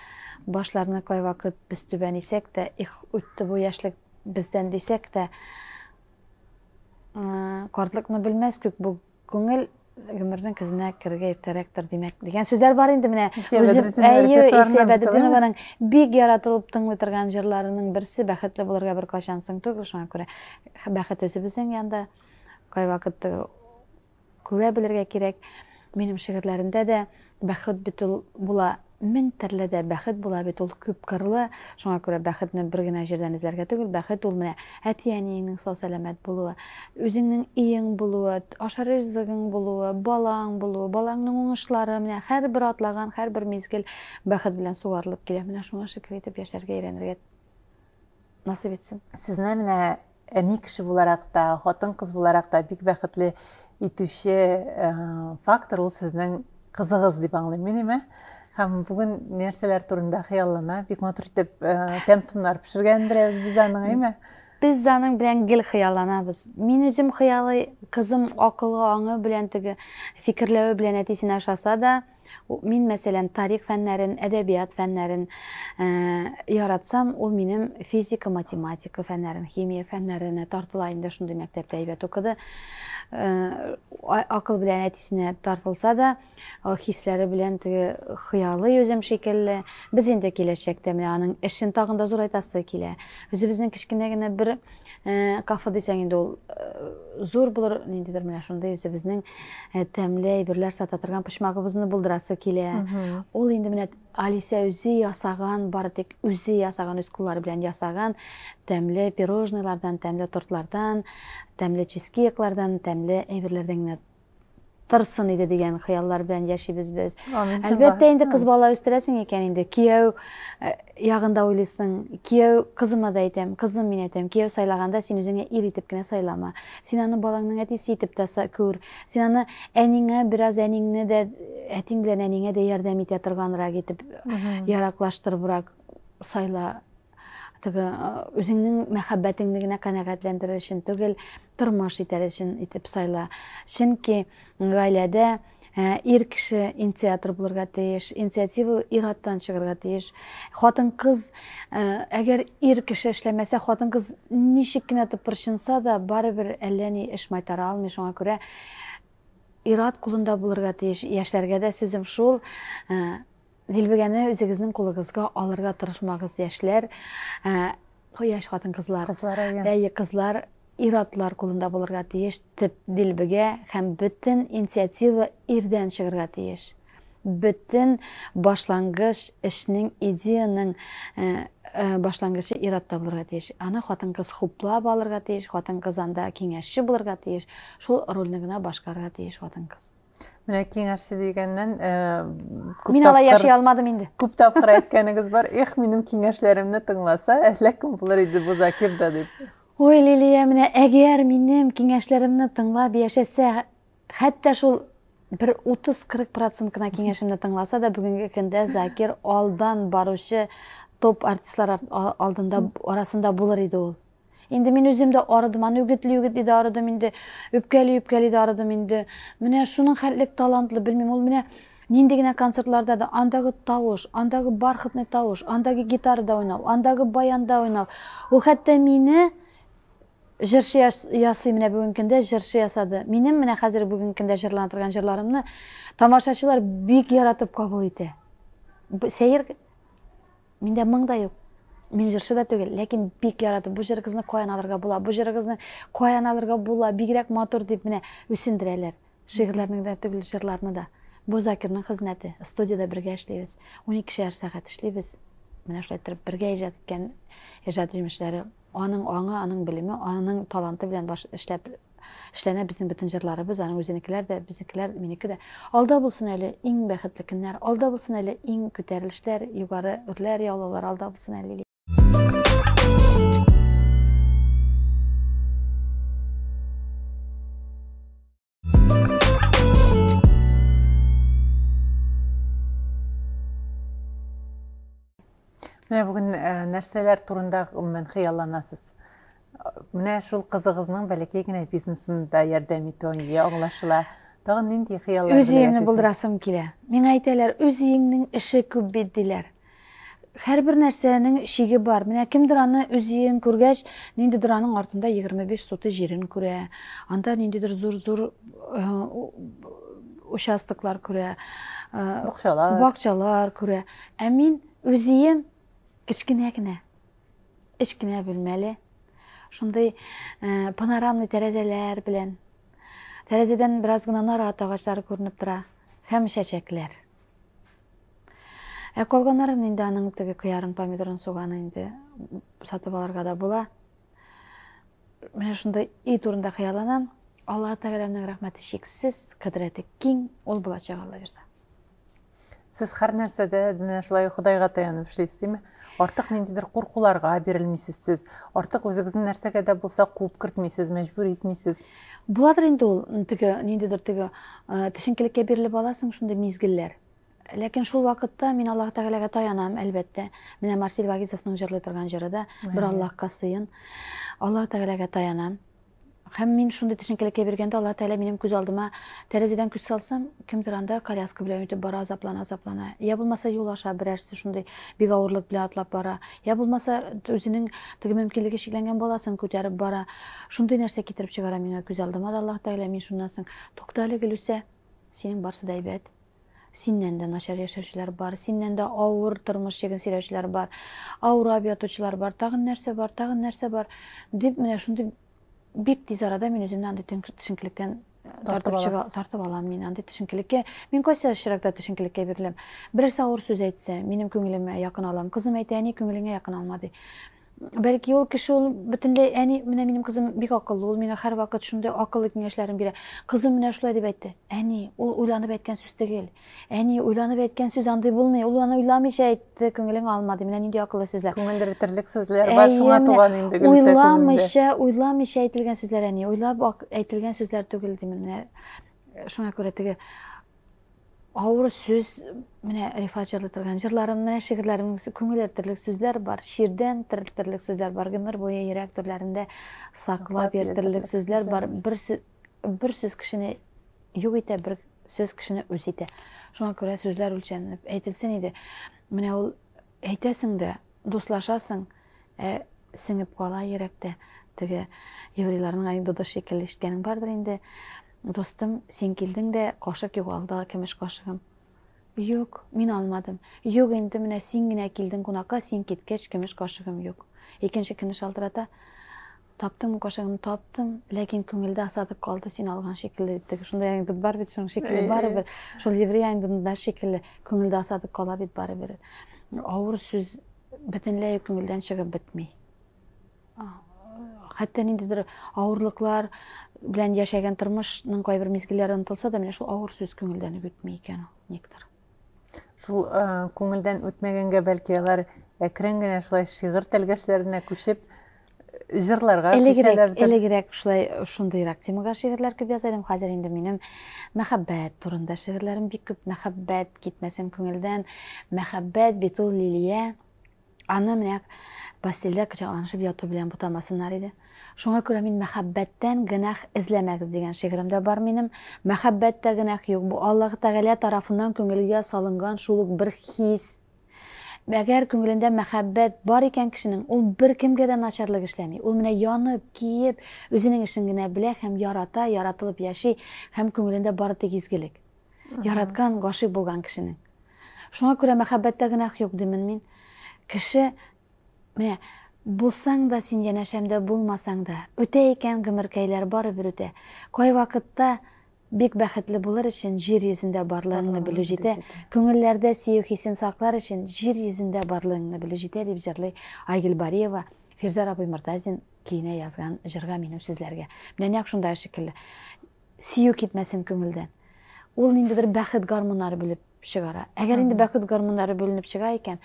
башларны кайвакыт без түбән исәк тә, их, үтте бу яшьлек бездән дисәк тә, картлыкны белмәс күк бу күңел гомернең көзенә керергә иртәрәктер, димәк, дигән сүзләр бар инде менә. Илсия Бәдретдинованың бик яратылып тыңлый торган җырларының берсе Бәхетле булырга бер кайчан соң түгел, шуңа күрә бәхет үзе безнең янда. Кайвакыт күрә белергә кирәк, минем шигырьләрендә дә бәхет бит ул була мең төрле дә бәхет була бит ул күп кырлы. Шуңа күрә бәхетне бер генә җирдән эзләргә түгел, бәхет ул менә әти-әниеңнең сау-сәламәт булуы, үзеңнең өең булуы, ашар ризыгың булуы, балаң булуы, балаңның уңышлары, менә һәрбер атлаган, һәрбер мизгел бәхет белән сугарылып килә. Менә шуңа шөкер итеп яшәргә өйрәнергә насыйп итсен. Сезне менә
әни кеше буларак та, хатын-кыз буларак та бик бәхетле итүче э, фактор ул сезнең кызыгыз дип аңлыйм мин име? һәм бүген нәрсәләр турында хыяллана бик матур итеп э, тәм томнар пешергән берәүбез без аның әйме без аның
белән гел хыялланабыз мин үзем хыялый кызым акылы аңы белән теге фикерләве белән әтисенә ошаса да Мин, мәсәлән, тарих фәннәрен, әдәбият фәннәрен э, яратсам, ул минем физика, математика фәннәрен, химия фәннәренә тартыла инде шундый мәктәптә әйбәт укыды. Э, акыл белән әтисенә тартылса да, хисләре белән теге хыялы йөзем шикелле. Без инде киләчәктә менә аның эшен тагын да зурайтасы килә. Үзебезнең кечкенә генә бер Кафе дисәң инде ул зур булыр, ниндидер менә шундый үзебезнең тәмле әйберләр сата торган почмагыбызны булдырасы килә. Ул инде менә Алисә үзе ясаган, бары тик үзе ясаган, үз куллары белән ясаган тәмле пирожныйлардан, тәмле тортлардан, тәмле чизкейклардан, тәмле әйберләрдән генә торсын иде дигән хыяллар белән яшибез без. Әлбәттә инде кыз бала үстерәсең икән инде. Кияү э, ягында уйлыйсың. Кияү кызыма да әйтәм, кызым мин әйтәм, кияү сайлаганда син үзеңә ир итеп кенә сайлама. Син аны балаңның әтисе итеп тә күр. Син аны әнеңә бераз әнеңне дә әтиң белән әнеңә дә ярдәм итә торганрак итеп, яраклаштырыбрак сайла теге үзеңнең мәхәббәтеңне генә канәгатьләндерер өчен түгел, тормыш итәр өчен итеп сайла. Чөнки гаиләдә ир кеше инициатор булырга тиеш, инициатива ир-аттан чыгарга тиеш. Хатын-кыз, әгәр ир кеше эшләмәсә, хатын-кыз ничек кенә тыпырчынса да, барыбер әллә ни эш майтара алмый, шуңа күрә ир-ат кулында булырга тиеш. Яшьләргә дә сүзем шул, Дилбегәне үзегезнең кулыгызга алырга тырышмагыз, яшьләр, яшь хатын-кызлар. Кызлар, әйе. кызлар, ир-атлар кулында булырга тиеш төп дилбегә һәм бөтен инициатива ирдән чыгарга тиеш. Бөтен башлангыч эшнең, идеяның башлангычы ир-атта булырга тиеш. Аны хатын-кыз хуплап алырга тиеш, хатын-кыз анда киңәшче булырга тиеш, шул рольне генә башкарырга тиеш хатын-кыз. Менә киңәшче
дигәннән, э, күп
Мин алай яши алмадым инде. Күп тапкыр әйткәнегез
бар, эх, минем киңәшләремне тыңласа, әллә кем булыр иде бу Закир да дип. Ой, Лилия,
менә әгәр минем киңәшләремне тыңлап яшәсә, хәтта шул бер 30-40 процент кына киңәшемне тыңласа да, бүгенге көндә Закир алдан баручы топ артистлар алдында арасында булыр иде ул. Инде мин үзем дә арыдым, аны үгетли-үгетли дә арыдым инде, үпкәли-үпкәли дә арыдым инде. Менә шуның хәтле талантлы, белмим, ул менә нинди генә концертларда да андагы тавыш, андагы бархатный тавыш, андагы гитарада уйнау, андагы баянда уйнау. Ул хәтта мине җырчы ясый менә бүгенге көндә җырчы ясады. Минем менә хәзер бүгенге көндә җырлана торган җырларымны тамашачылар бик яратып кабул итә. Сәер Миндә моң да юк. Мин җырчы да түгел, ләкин бик яратып, бу җырыгызны каян алырга була, бу җырыгызны каян алырга була, бигрәк матур дип менә үсендерәләр. Шигырьләрне дә түгел, җырларны да. Бу Закирның хезмәте. Студиядә бергә эшлибез. Унике шәһәр сәгать эшлибез. Менә шулай торып бергә иҗат иткән иҗат җимешләре. Аның аңы, аның белеме, аның таланты белән баш эшләп эшләнә безнең бөтен җырларыбыз, аның үзенекеләр дә, безнекеләр, минеке дә. Алда булсын әле иң бәхетле көннәр, алда булсын әле иң күтәрелешләр, югары үрләр, яулаулар алда булсын әле.
Менә бүген нәрсәләр турында гомумән хыялланасыз? Менә шул кызыгызның бәләкәй генә бизнесын да ярдәм итүен ие аңлашыла. Тагын нинди хыяллар Үз өемне булдырасым
килә. Миңа әйтәләр, үз өеңнең эше күп бит диләр. Һәрбер нәрсәнең шиге бар. Менә кемдер аны үз өен күргәч, ниндидер аның артында 25 суты җирен күрә. Анда ниндидер зур-зур э, участоклар күрә. Э, бакчалар. Бакчалар күрә. Ә мин үз өем кечкенә генә. Кечкенә бүлмәле, шундый панорамный тәрәзәләр белән. Тәрәзәдән бераз гына нарат агачлары күренеп тора һәм чәчәкләр. Ә калганнарын инде аның теге кыярын, помидорын, суганы инде сатып алырга да була. Менә шунда и турында хыялланам. Алла Тәгаләнең рәхмәте чиксез, кыдрәте киң, ул булачак Алла бирса.
Сез һәр нәрсәдә менә шулай Ходайга таянып эшлисез, димме? Артык ниндидер куркуларга бирелмисез сез. Артык үзегезне нәрсәгә дә булса куып кертмисез, мәҗбүр итмисез. Буладыр инде
ул теге ниндидер теге э, төшенкелеккә бирелеп аласың шундый мизгелләр. Ләкин шул вакытта мин Аллаһ Тәгаләгә таянам, әлбәттә. Менә Марсель Вагизовның җырлый торган җыры да бер Аллаһка сыен. Аллаһ Тәгаләгә таянам. Һәм мин шундый төшенкелек кибергәндә Аллаһ Тәгалә минем күз алдыма тәрәзәдән күз салсам, кемдер анда коляска белән үтеп бара, азаплана, азаплана. Я булмаса юл аша берәрсе шундый бик авырлык белән атлап бара. Я булмаса үзенең теге мөмкинлеге чикләнгән баласын күтәреп бара. Шундый нәрсә китереп чыгара миңа күз алдыма да Аллаһ Тәгалә мин шуннан соң тукта әле Гөлүсә, синең барсы да әйбәт. Синнән дә начар яшәүчеләр бар, синнән дә авыр тормыш чиген сөйләүчеләр бар, авырап ятучылар бар, тагын нәрсә бар, тагын нәрсә бар, дип менә шундый бик тиз арада мин үземне андый төшенкелектән тартып чыга, тартып алам мин андый төшенкелеккә. Мин кайсы очракта төшенкелеккә биреләм? Берәрсе авыр сүз әйтсә, минем күңелемә якын алам. Кызым әйтә, әни күңелеңә якын алма ди. Бәлки ул кеше ул бөтенләй әни, менә минем кызым бик акыллы, ул миңа һәрвакыт шундый акыллы киңәшләрен бирә. Кызым менә шулай дип әйтте. Әни, ул уйланып әйткән сүз түгел. Әни, уйланып әйткән сүз андый булмый. Ул аны уйламыйча әйтте, күңелең алма ди. Менә нинди акыллы сүзләр. Күңелдә бетерлек сүзләр бар,
шуңа туган инде Гөлүсә күңелдә. Уйламыйча, уйламыйча әйтелгән
сүзләр әни, уйлап әйтелгән сүзләр түгел димен. Менә шуңа күрә теге Авыр сүз, менә Рифат җырлый торган җырларымны, шигырьләремне күңел эртерлек сүзләр бар, чирдән терелтерлек сүзләр бар, гомер буе йөрәк түрләрендә саклап йөртерлек сүзләр бар. Бер бер сүз кешене юк итә, бер сүз кешене үз итә. Шуңа күрә сүзләр үлчәнлек әйтелсен иде. Менә ул Әйтәсең дә, дуслашасың, ә сеңеп кала йөрәктә. Теге еврейларның анекдоты шикелле ишеткәнең бардыр инде, Дустым, син килдең дә, кашык югалды, көмеш кашыгым. Юк, мин алмадым. Юк инде, менә син генә килдең кунакка, син киткәч, көмеш кашыгым юк. Икенче көнне шалтырата. Таптым кашыгымны, таптым, ләкин күңелдә осадок калды, син алган шикелле, диттек. Шундай анекдот бар бит, шуның шикелле барыбер. Шул еврей анекдотында шикелле, күңелдә осадок кала бит барыбер. Авыр сүз бөтенләй күңелдән чыгып бетми. Хәтта ниндидер авырлыклар белән яшәгән тормышның кайбер мизгелләре онытылса да, менә шул авыр сүз күңелдән үк бетми икән ул, никтер. Шул
э, күңелдән үтмәгәнгә бәлки алар әкрен генә шулай шигырь тәлгәшләренә күчеп э, җырларга элегрәк элегрәк шулай
шундыйрак темага шигырьләр күп яза идем хәзер инде минем мәхәббәт турында шигырьләрем бик күп мәхәббәт китмәсен күңелдән мәхәббәт бит ул лилия Аны менә постельдә кочакланышып яту белән бутамасыннар иде. Шуңа күрә мин мәхәббәттән гөнаһ эзләмәгез дигән шигырем дә бар минем. Мәхәббәттә гөнаһ юк, бу Аллаһы Тәгалә тарафыннан күңелгә салынган шул ук бер хис. Әгәр күңелендә мәхәббәт бар икән кешенең, ул беркемгә дә начарлык эшләми. Ул менә янып, киеп, үзенең эшен генә белә һәм ярата, яратылып яши һәм күңелендә бары тик изгелек. Яраткан, гашыйк булган кешенең. Шуңа күрә мәхәббәттә гөнаһ юк димен мин. Кеше менә булсаң да син янәшәмдә булмасаң да, үтә икән гомеркәйләр барыбер үтә. Кайвакытта бик бәхетле булыр өчен җир йөзендә барлыгыңны белү җитә, күңелләрдә сөю хисен саклар өчен җир йөзендә барлыгыңны белү җитә, дип җырлый Айгөл Бариева Фирзар абый Мортазин киенә язган җырга минем сүзләргә. Менә нәкъ шундагы шикелле. Сөю китмәсен күңелдән. Ул ниндидер бәхет гармуннары бүлеп чыгара. Әгәр инде бәхет гармуннары бүленеп чыга икән,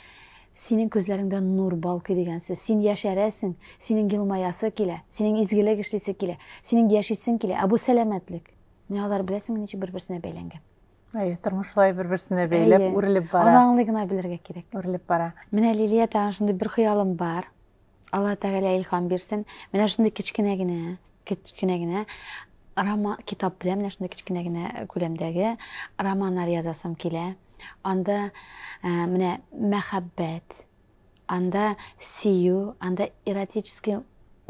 синең күзләреңдә нур балкый дигән сүз. Син яшәрәсең, синең елмаясы килә, синең изгелек эшлисе килә, синең яшисең килә. Ә бу сәламәтлек. Менә алар беләсеңме ничек бер-берсенә бәйләнгән. Әйе, тормыш шулай
бер-берсенә бәйләп, үрелеп бара. Аны аңлый гына белергә
кирәк. Үрелеп бара. Менә
Лилия тагын
шундый бер хыялым бар. Алла Тәгалә илхам бирсен. Менә шундый кечкенә генә, кечкенә генә роман китап белән менә шундый кечкенә генә күләмдәге романнар язасым килә. Анда э, менә мәхәббәт, анда сөю, анда эротический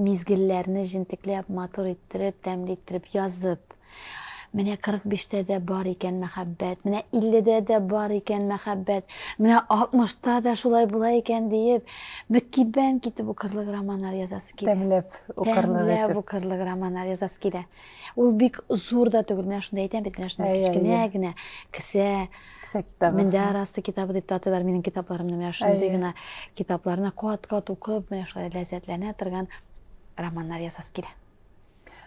мизгелләрне җентекләп, матур иттереп, тәмле иттереп язып, Менә 45 тә дә бар икән мәхәббәт, менә 50 дә дә бар икән мәхәббәт, менә 60 та да шулай була икән диеп, мөкиббән китеп укырлык романнар язасы килә. Тәмләп укырлык
итеп. Тәмләп укырлык
романнар язасы килә. Ул бик зур да түгел, менә шунда әйтәм бит, менә шунда кечкенә генә кесә. Кесә китабы. Мендә
арасы китабы
дип таты бар минем китапларымны, менә шундый гына китапларны кат-кат укып, менә шулай ләззәтләнә торган романнар язасы килә.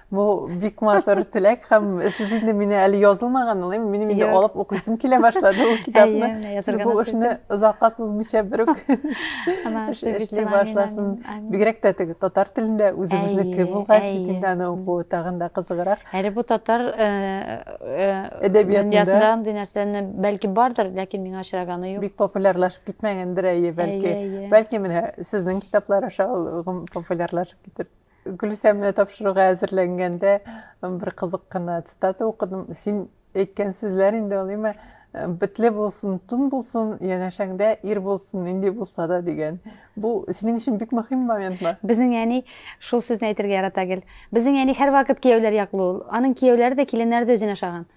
Бу
бик матур теләк һәм сез инде мине әле язылмаган улым, минем инде алып укыйсым килә башлады ул китапны. Сез бу эшне озакка сузмыйча бер үк эшли башласын. Бигрәк тә теге татар телендә үзебезнеке булгач, бит инде аны уку тагын да кызыграк. Әле бу татар
әдәбиятында андый нәрсәне бәлки бардыр, ләкин миңа очраганы юк. Бик популярлашып китмәгәндер
әйе, бәлки. Бәлки менә сезнең китаплар аша ул популярлашып китер. Гөлүсә менә тапшыруга әзерләнгәндә бер кызык кына цитата укыдым. Син әйткән сүзләр инде ул имә бетле булсын, тун булсын, янәшәңдә ир булсын, нинди булса да дигән. Бу синең өчен бик мөһим моментмы? Безнең әни
шул сүзне әйтергә ярата гел. Безнең әни һәрвакыт кияүләр яклы ул. Аның кияүләре дә, киленнәре дә үзенә ошаган.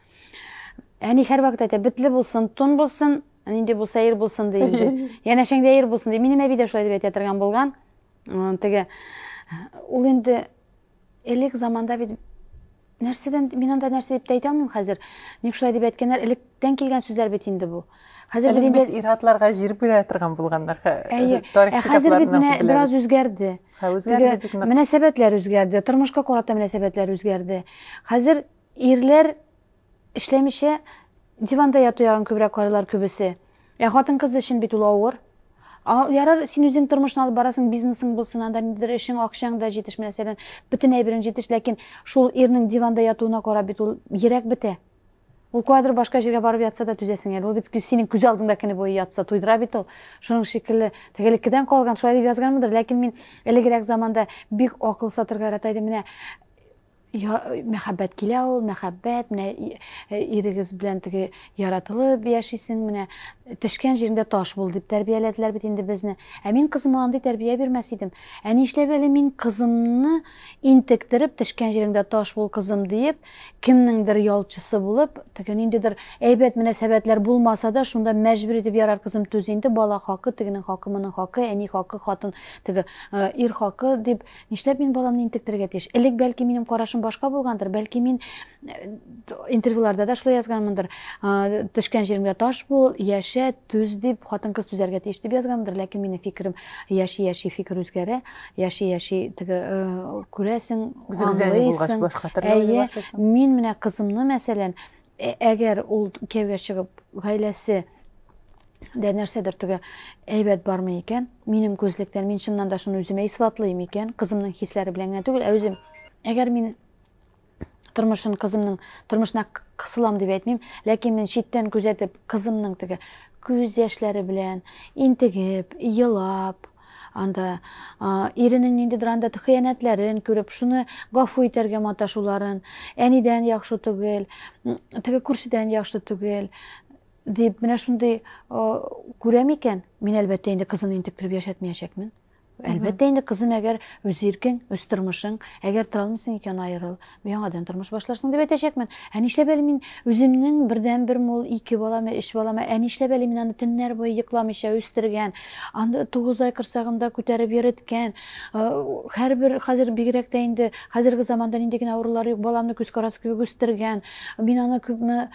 Әни һәрвакыт әйтә, бетле булсын, тун булсын, нинди булса ир булсын ди инде. Янәшәңдә ир булсын ди. Минем әби дә шулай дип әйтә торган булган. Теге ул инде элек заманда бит нәрсәдән мин анда нәрсә дип әйтә алмыйм хәзер. Ник шулай дип әйткәннәр, электән килгән сүзләр бит инде бу. Хәзер бит инде ир-атларга
җир бирә торган булганнар. Әйе. Ә хәзер
бит менә бераз үзгәрде. Ха, үзгәрде бит.
Мөнәсәбәтләр үзгәрде,
тормышка карата мөнәсәбәтләр үзгәрде. Хәзер ирләр Эшләмичә диванда яту ягын күбрәк карыйлар күбесе. Ә хатын-кыз өчен бит ул авыр. А, ярар, син үзең тормышны алып барасың, бизнесың булсын, анда ниндидер эшең, акчаң да җитеш, мәсәлән, бөтен әйберең җитеш, ләкин шул ирнең диванда ятуына карап бит ул йөрәк бетә. Ул каядыр башка җиргә барып ятса да түзәсең әле. Ул бит синең күз алдыңда көне буе ятса, туйдыра бит ул. Шуның шикелле, тегелекедән калган, шулай дип язганмындыр, ләкин мин элегрәк заманда бик акыл сатырга ярата идем. Менә я, мәхәббәт килә ул, мәхәббәт, менә э, ирегез белән теге яратылып яшисең, менә тешкән җиреңдә таш бул дип тәрбияләделәр бит инде безне. Ә мин кызыма андый тәрбия бирмәс идем. Ә нишләп әле мин кызымны интектереп, тешкән җиреңдә таш бул кызым диеп, кемнеңдер ялчысы булып, теге ниндидер әйбәт мөнәсәбәтләр булмаса да, шунда мәҗбүр итеп ярар кызым түз инде, бала хакы, тегенең хакы, моның хакы, әни хакы, хатын, теге э, ир хакы дип Нишләп мин баламны интектерергә тиеш? Элек бәлки минем карашым башка булгандыр, бәлки мин интервьюларда да шулай язганмындыр. Төшкән җиреңдә таш бул, яшә, түз дип, хатын-кыз түзәргә тиеш дип язганмындыр, ләкин минем фикерем яши-яши фикер үзгәрә, яши-яши теге күрәсең, аңлыйсың. Әйе, мин менә кызымны мәсәлән, Ә әгәр ул кияүгә чыгып, гаиләсе дә нәрсәдер теге әйбәт бармы икән? Минем күзлектән мин чыннан да шуны үземә исбатлыйм икән, кызымның хисләре белән генә түгел, ә үзем. Әгәр мин тормышын кызымның тормышына кысылам дип әйтмим, ләкин мин читтән күзәтеп, кызымның теге күз яшьләре белән интегеп, елап, Анда иренең ниндидер анда хыянәтләрен күреп, шуны гафу итәргә маташуларын, әнидән яхшы түгел, теге күршедән яхшы түгел, дип, менә шундый күрә микән? Мин, әлбәттә, инде кызын интектереп яшәтмәячәкмен. Әлбәттә, инде кызым, әгәр үз иркең, үз тормышың, әгәр тора алмыйсың икән, аерыл. Яңадан тормыш башларсың дип әйтәчәкмен. Ә нишләп әле мин үземнең бердән бер мул ике баламы, өч баламы, ә нишләп әле мин аны төннәр буе йокламыйча үстергән, аны 9 ай корсагында күтәреп йөреткән. Э, һәрбер хәзер бигрәк тә инде хәзерге заманда нинди генә авырулар юк, баламны күз карасы кебек үстергән. Мин аны күпме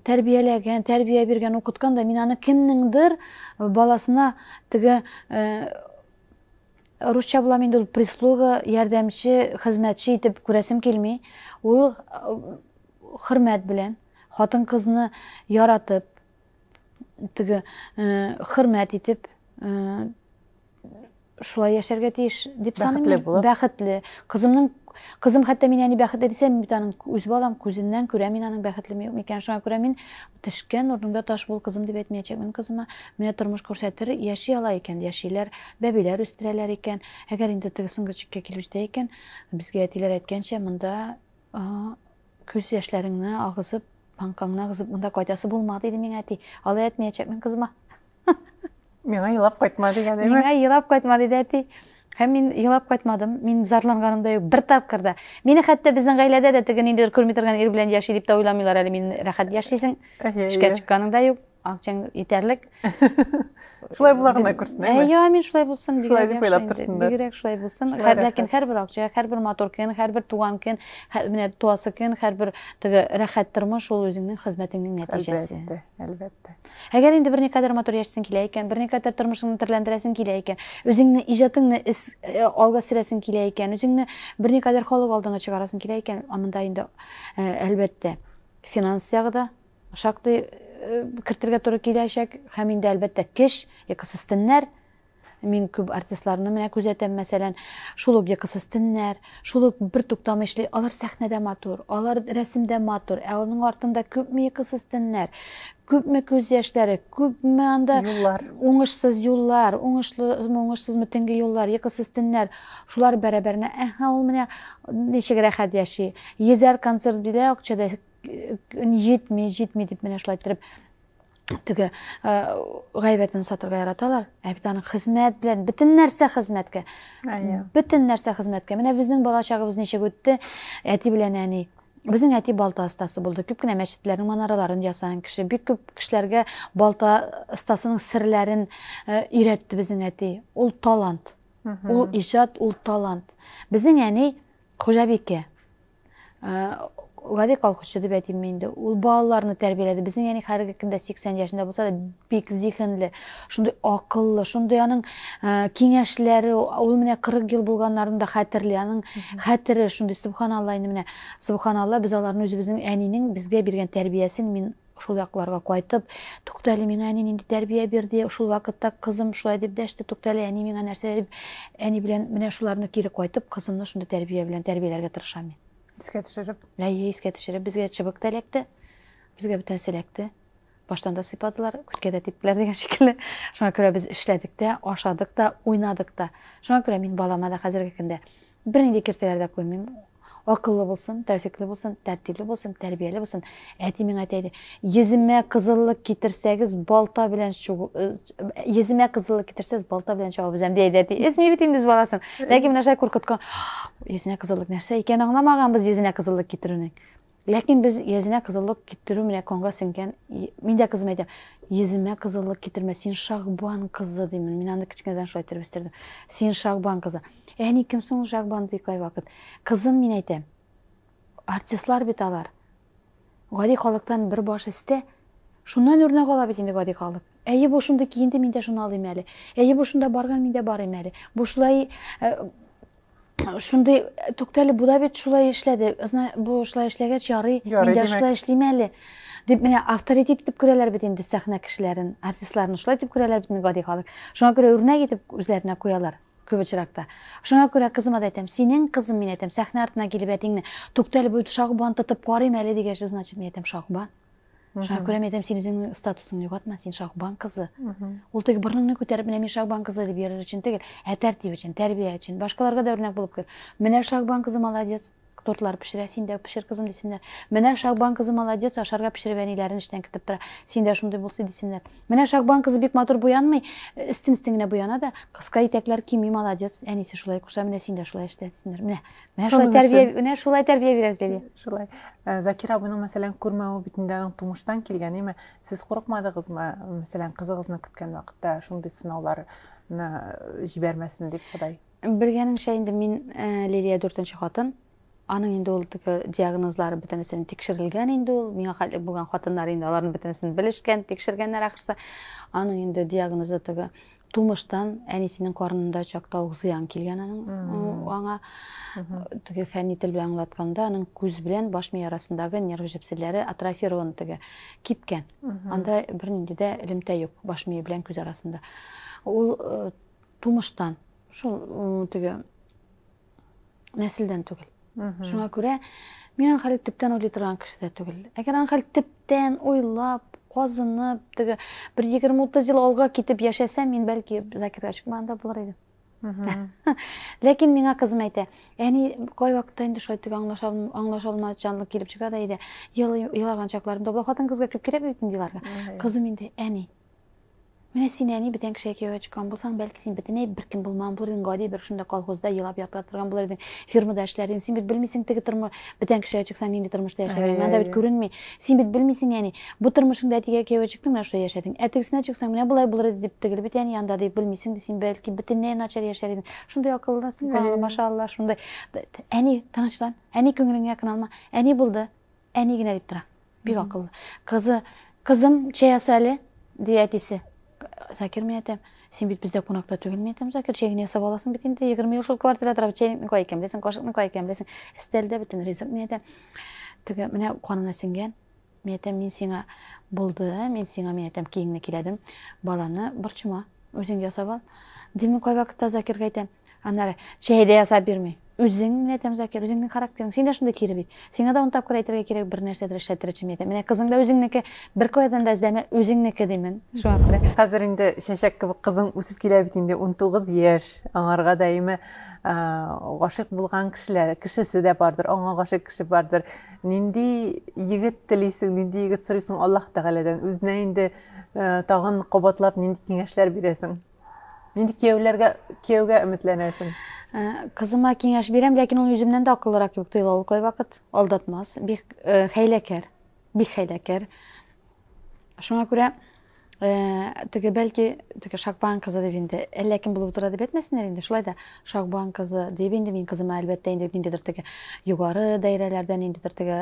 тәрбияләгән, тәрбия биргән, укыткан да, мин аны кемнеңдер баласына теге э, Русча була инде ул прислуга, ярдәмче, хезмәтче итеп күрәсем килми. Ул хөрмәт белән, хатын-кызны яратып, теге хөрмәт итеп шулай яшәргә тиеш дип саныйм. Бәхетле. Кызымның Кызым хәтта мин әни бәхетле дисәм, бит аның үз балам күзеннән күрә мин аның бәхетлеме юкмы икән. Шуңа күрә мин Төшкән урыныңда таш бул, кызым, дип әйтмәячәкмен кызыма. Менә тормыш күрсәтер, яши ала икән, яшиләр, бәбиләр үстерәләр икән. Әгәр инде теге соңгы чиккә килеп җитә икән, безгә әтиләр әйткәнчә, монда күз яшьләреңне агызып, паңкаңны агызып, монда кайтасы булмады иде миңа, әти. Алай әйтмәячәкмен кызыма.
Миңа елап кайтма дигән әйме? Миңа елап кайтма диде
әти. Һәм мин елап кайтмадым. Мин зарланганым да юк. Бер тапкыр да. Мине хәтта безнең гаиләдә дә теге нинди күрми торган ир белән яши дип тә уйламыйлар әле. Мин рәхәт яшисең. Эшкә чыкканың да юк. Акчаң итәрлек.
Шулай була гына күрсен, әйме? Йо, мин шулай булсын. Шулай
дип уйлап торсын да. Бигрәк шулай булсын. Ләкин һәрбер акча, һәрбер матур көн, һәрбер туган көн, менә туасы көн, һәрбер теге рәхәт тормыш ул үзеңнең хезмәтеңнең нәтиҗәсе. Әлбәттә, әлбәттә.
Әгәр инде берникадәр
матур яшисең килә икән, берникадәр тормышыңны төрләндерәсең килә икән, үзеңне, иҗатыңны эс, э, алга сөрәсең килә икән, үзеңне берникадәр халык алдына чыгарасың килә икән, амында инде, э, әлбәттә, финанс ягы да шактый э, кертергә туры киләчәк, һәм инде, әлбәттә, кеш, экосистемнәр, Мин күп артистларны менә күзәтәм, мәсәлән, шул ук йокысыз төннәр, шул ук бертуктамый эшли. Алар сәхнәдә матур, алар рәсемдә матур, ә аның артында күпме йокысыз төннәр, күпме күз яшьләре, күпме анда юллар, уңышсыз юллар, уңышлымы, уңышсызмы төнге юллар, йокысыз төннәр. Шулар бәрабәренә, әһә, ул менә ничек рәхәт яши. Йөзәр концерт бирә, акча да җитми, җитми дип менә шулай иттереп теге гайбәтен сатырга яраталар ә бит аның хезмәт белән бөтен нәрсә хезмәткә бөтен нәрсә хезмәткә менә безнең бала чагыбыз ничек үтте әти белән әни Безнең әти балта остасы булды. Күп кенә мәчетләрнең манараларын ясаган кеше. Бик күп кешеләргә балта остасының серләрен э, өйрәтте безнең әти. Ул талант. Ул иҗат, ул талант. Безнең әни хуҗабикә. гади колхозчы дип әйтимме инде ул балаларны тәрбияләде безнең әни хәзерге көндә 80 яшендә булса да бик зиһенле шундый акыллы шундый аның киңәшләре ул менә 40 ел булганнарын да хәтерли аның хәтере шундый субханалла инде менә субханалла без аларны үзебезнең әнинең безгә биргән тәрбиясен мин Шул якларга кайтып, Туктале миңа әни нинди тәрбия бирде, шул вакытта кызым шулай дип дәште, Туктале әни миңа нәрсә дип, әни белән менә шуларны кире кайтып, кызымны шундый тәрбия белән тәрбияләргә тырышам мин. Искә төшереп.
Әйе, искә төшереп.
Безгә чыбык та эләкте, безгә бөтен нәрсә эләкте. Баштан да сыйпадылар, күткә дә типтеләр дигән шикелле. Шуңа күрә без эшләдек тә, ашадык та, уйнадык та. Шуңа күрә мин балама да хәзерге көндә Бернинди киртәләр дә куймыйм. Акыллы булсын, тәүфикле булсын, тәртипле булсын, тәрбияле булсын. Әти миңа әйтә иде, йөземә кызыллык китерсәгез, балта белән чугу, э, йөземә кызыллык китерсәгез, балта белән чабып өзәм, ди әти. Эзми бит инде үз баласын. Ләкин менә шулай куркыткан. Йөзенә кызыллык нәрсә икәнен аңламаганбыз йөзенә кызыллык китерүнең. Ләкин без йөзенә кызыллык китерү менә конга сеңгән. Мин дә кызыма әйтәм, йөземә кызыллык китермә, син Шагбан кызы димен. Мин аны кечкенәдән шулай итеп үстердем. Син Шагбан кызы. Әни кем соң Шагбан ди кайвакыт. Кызым, мин әйтәм, артистлар бит алар. Гади халыктан бер баш истә. Шуннан үрнәк ала бит инде гади халык. Әйе, бу шундый киенде, мин дә шуны алыйм әле. Әйе, бу шунда барган, мин дә барыйм әле. Бу шулай э, шундый түктәле бу да бит шулай эшләде бу шулай эшләгәч ярый мин дә шулай эшлим әле дип менә авторитет итеп күрәләр бит инде сәхнә кешеләрен артистларны шулай итеп күрәләр бит инде гади халык шуңа күрә үрнәк итеп үзләренә куялар күп очракта шуңа күрә кызыма да әйтәм синең кызым мин әйтәм сәхнә артына килеп әтиңне түктәле бу шагбан тотып карыйм әле дигәч значит мин әйтәм шагбан Шаһкүрәм әйтәм, син үзеңнең статусыңны югатма, син Шаһбан кызы. Ул теге борныңны күтәреп, менә мин Шаһбан кызы дип йөрер өчен түгел, ә тәртип өчен, тәрбия өчен, башкаларга да үрнәк булып кер. Менә Шаһбан кызы молодец, тортлар пешерә, син дә пешер кызым дисеннәр. Менә Шаһбан кызы молодец, ашарга пешереп әниләрен эштән кертеп тора. Син дә шундый булсы дисеннәр. Менә Шаһбан кызы бик матур буянмый, истин-истин генә буяна да, кыска итәкләр кими, молодец, әнисе шулай куша, менә син дә шулай эштә дисеннәр. Менә Менә шулай тәрбия, менә шулай тәрбия бирәбез, Лилия. Шулай. Э,
Закир абыйның, мәсәлән, күрмәве бит инде аның тумыштан килгән, әйме? Сез курыкмадыгызмы, мәсәлән, кызыгызны көткән вакытта шундый сынауларны э, җибәрмәсен дип Ходай? Белгәнемчә инде
мин э, Лилия дүртенче хатын. Аның инде ул теге диагнозлары бөтенесен тикшерелгән инде ул. Миңа хәтле булган хатыннар инде аларның бөтенесен белешкән, тикшергәннәр ахрысы. Аның инде диагнозы теге тумыштан әнисенең карынында чакта ук зыян килгән аның аңа теге фәнни тел белән аңлатканда аның күз белән баш мие арасындагы нерв җепселләре атрофирован теге кипкән анда бернинди дә элемтә юк баш мие белән күз арасында ул тумыштан шул теге нәселдән түгел. Шуңа күрә мин Анхәлит төптән уйлый торган кеше дә түгел. Әгәр Анхәлит төптән уйлап, казынып, теге бер 20-30 ел алга китеп яшәсәм, мин бәлки Закирга чыкмаган да булыр идем. Ләкин миңа кызым әйтә, әни кай вакытта инде шулай теге аңлаша аңлаша алмаучанлык килеп чыга да иде. Елаган чакларымда бу хатын-кызга күп кирәкми бит инде еларга. Кызым инде, әни, Менә син, әни, бүтән кешегә кияүгә чыккан булсаң, бәлки син бөтенләй беркем булмаган булыр идең, гади бер шунда колхозда елап япыра торган булыр идең, фирмада эшләр идең. Син бит белмисең теге тормыш, бүтән кешегә чыксаң нинди тормышта яшәгәнен. Анда бит күренми. Син бит белмисең, әни. Бу тормышыңда әтигә кияүгә чыктың, менә шулай яшәдең. Ә тегесенә чыксаң, менә болай булыр иде, дип тегел бит, әни, анда дип белмисең, син бәлки бөтенләй начар яшәр идең. Шундый акыллы, суканлы, машаалла, шундый. Әни, тынычлан. Әни, күңелеңне якын алма. Әни булды. Әни генә дип тора. Бик акыллы. Кызы, кызым, чәй яса әле, ди әтисе. Закир мин әйтәм, син бит бездә кунакта түгел, мин әйтәм, Закир, чәй генә ясап аласың бит инде, егерме ел шул квартира торам, чәйнекне кая икән беләсең, кашыкны кая икән беләсең, өстәлдә бөтен ризык, мин әйтәм, теге менә канына сеңгән, мин әйтәм, мин сиңа булды, мин сиңа, мин әйтәм, киеңне киләдем, баланы борчыма, үзең ясап ал. Димин кайвакытта Закирга әйтәм, Аннары чәйдә ясап бирми. Үзең менә әйтәм, Закир, үзеңнең характерың, син дә шундый кире бит. Сиңа да он тапкыр әйтергә кирәк, бер нәрсәдер эшләтер өчен әйтәм. Менә кызың да үзеңнеке, бер каядан да эзләмә, үзеңнеке димен. Шуңа күрә. Хәзер инде чәчәк
кебек кызың үсеп килә бит инде, унтугыз яшь. Аңарга даими гашыйк булган кешеләр, кешесе дә бардыр, аңа гашыйк кеше бардыр. Нинди егет телисең, нинди егет сорыйсың Аллаһ Тәгаләдән? Үзенә инде тагын кабатлап нинди киңәшләр бирәсең? Нинди кияүләргә кияүгә өметләнәсең? Э, кызыма
киңәш бирәм, ләкин ул үземнән дә акыллырак кебек тоела. Ул кайвакыт алдатмас, бик э, хәйләкәр, бик хәйләкәр. Шуңа күрә э, теге бәлки теге Шакбан кызы дип инде әллә кем булып утыра дип әйтмәсеннәр инде. Шулай да Шакбан кызы дип инде мин кызыма әлбәттә инде ниндидер теге югары даирәләрдә ниндидер теге